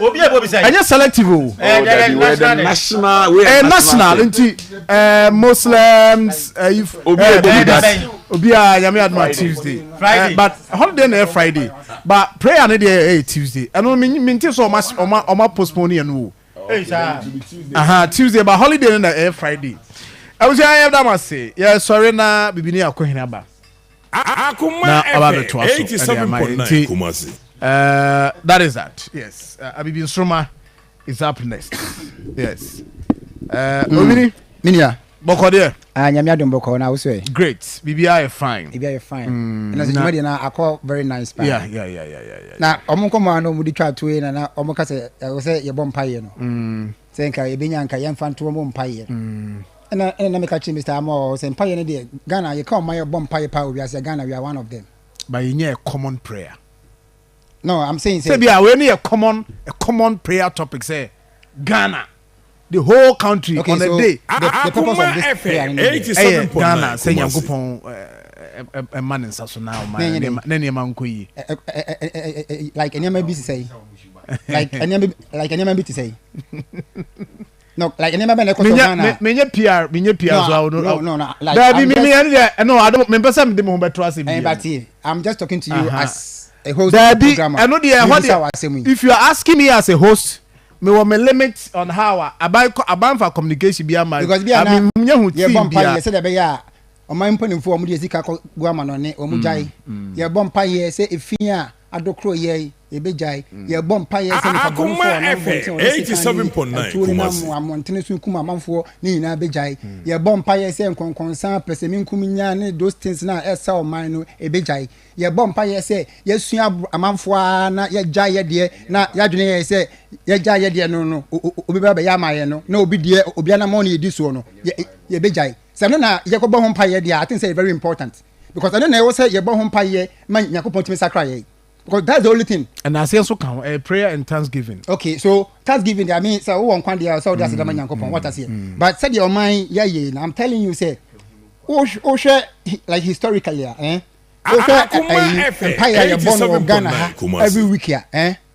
obi a bobisa yi. ɛnyɛ selective o. ɛɛ dɛ dɛ national dɛ. national wei yɛ national ɛɛ national nti ɛɛ muslims ɛyi. obi a ɛbɔ mi da se. obi a nyame aduma tuesday. friday but holiday na yɛ friday but prayer ne deɛ ɛyɛ tuesday ɛno mi mi n ti sɛ ɔma ɔma ɔma postpone yɛn o. ɛyi saa. aha tuesday but holiday ne na ɛyɛ friday. ɛwusu yɛn yɛ dama se yɛ sɔre na bibi ni akɔ hin aba. na ɔba abɛtoa so ɛde ama yɛn nti ɛɛ that is that yes abibi nsoroma is up next yes ɛɛ hmm. owini. minia. bɔkɔ deɛ. aa ah, nyame adum bɔkɔ na awosɔ yɛ. great biribi ayɛ fine. biribi ayɛ fine. Hmm. ɛna sɛ juma deɛ na akɔ very nice paa. ya ya ya ya ya. na ɔmo nkɔmɔ ano ɔmo di twa ato yɛ na na ɔmo kasa ɛwɔ sɛ yɛbɔ mpa yɛ no. Hmm. sɛ nka ebi nya nka yɛn fa nto ɔmo mpa yɛ. Ɛna ɛna na meka kyerɛ Mister Amoah sɛ mpaeɛ no deɛ Ghana yɛka ɔman yɛ bɔ mpaeɛ paa wɔ wiase a Ghana we are one of them. But yɛnyɛ a common prayer. No I'm saying sɛ. Sɛ bia wei no yɛ common a common prayer topic sɛ Ghana the whole country okay, on so a day. The, the purpose of this prayer no deɛ ɛyɛ Ghana sɛ Nyankopɔn ɛma ne nsa so na ɔma ne nneɛma nkɔ yie. Like nneɛma bi sisɛ yi. Like nneɛma bi like nneɛma bi sisɛ yi. No, like nneɛma bɛn na ɛkɔ so Ghana? Menya menya PR menya PR no, so awo no. No, no, no. Like, Dabi mi mi ɛni dɛ no ado mi mpɛ sɛ mi de mi ho bɛ to ase bi. Ɛnbati I'm just talking to you uh -huh. as a host Dabi, of the program. Dabi ɛno deɛ ɛhɔ deɛ if you are asking me as a host me wɔ me limit on how a aban abanfa communication bi ama. Because bi a na yɛ bɔ mpa yɛ sɛ de bɛ yɛ a ɔman mpanimfoɔ wɔn de sika kɔ gu ama no ne wɔn gya yi yɛ bɔ mpa yɛ sɛ efi a. Adokoro yɛe, yɛbɛgyae. Yɛrebɔ mpaeɛ sɛ nnipa bɔnefoɔ a wɔnam mmɔntene a wɔde sekan ne atuo nenam mmɔntene so kum amanfoɔ no nyinaa bɛgyae. Yɛrebɔ mpaeɛ sɛ nkɔnkɔnsa, pɛsɛmenkominya ne those things no a ɛresa ɔman no ɛbɛgyae. Yɛrebɔ mpaeɛ sɛ yɛasua aboro amanfoɔ ara na yɛagyae yɛn deɛ na yɛadwene yɛn sɛ yɛagyae yɛn deɛ no no obi bɛba abɛyɛ ama yɛn no na obi deɛ obi anammɔn na yɛdi soɔ no yɛbɛgyae. Sɛ ɛno na yɛkɔbɔ ho mpaeɛ deɛ a, I think sɛ ɛyɛ very important because ɛno na ɛwɔ sɛ yɛbɔ ho mpaeɛ ma Nyankopɔn tumi sakra yɛn because that's the only thing. Ɛna aseɛ nso ka ho, ɛyɛ prayer and thanksgiving. Okay, so thanksgiving deɛ I mean sɛ wowɔ nkwa deɛ a sɛ wode aseda ma Nyankopɔn, wate aseɛ. But sɛdeɛ ɔman yɛayɛ no, I'm telling you sɛ wohwɛ like historically a, eh, wohwɛ ɛyi mpaeɛ a yɛbɔ no wɔ Ghana ha every week a, eh,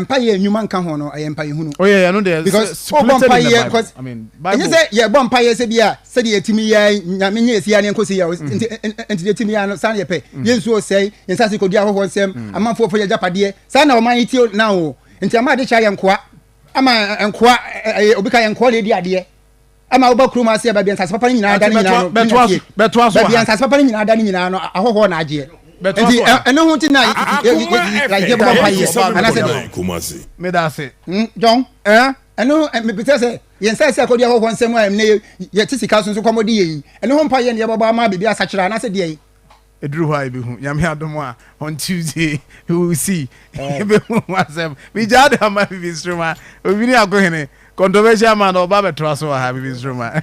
mpaeɛ nnwuma nka ho no ɛyɛ mpaeɛ hunu. oh yeah, yeah no deɛ because ɔbɔ mpaeɛ because ɛnyɛ sɛ yɛbɔ mpaeɛ sɛ bi a sɛdeɛ yɛtumi yɛ nyame nyɛ ɛsi aneɛ nkɔsi yɛ mm. nti nti deɛ tumi yɛ no saa na yɛpɛ mm. yɛnsu ɔsɛe yɛnsase kɔdi ahɔhoɔ nsɛm mm. amanfoɔ fo yɛgyapadeɛ saa na ɔman yi tio na o nti ama ade kyɛ yɛ nkoa ama nkoa ɛyɛ obi ka yɛ nkoa na ɛdi adeɛ ɛma woba kurom ase a baabi a nsase papa no nyinaa da no nyinaa no bɛtoa so bɛtoa so baabi a nsase papa no nyinaa da no nyinaa no ahɔhoɔ na agyeɛ nti ɛno ho nti na yɛyɛ bɔ mpa yɛ anasɛ de meda ase hmm, jɔn ɛno mepɛsɛ sɛ yɛn nsa ɛsɛ akɔdi ahɔhoɔ nsɛm a ɛmnɛ yɛte sika so nso kɔmmɔde yɛ yi ɛno ho mpa yɛ ne yɛbɔbɔ ama biribi asakyerɛ anasɛ deɛ Ɛduru hɔ a yɛbɛhu. Nyame adom a, on Tuesday we will see. Yɛbɛhu ho asɛm. Megyaa de ama Bibi Nsoroma. Odwini Akohene, controversial man, ɔba abɛtoa so wɔ ha, Bibi Nsoroma.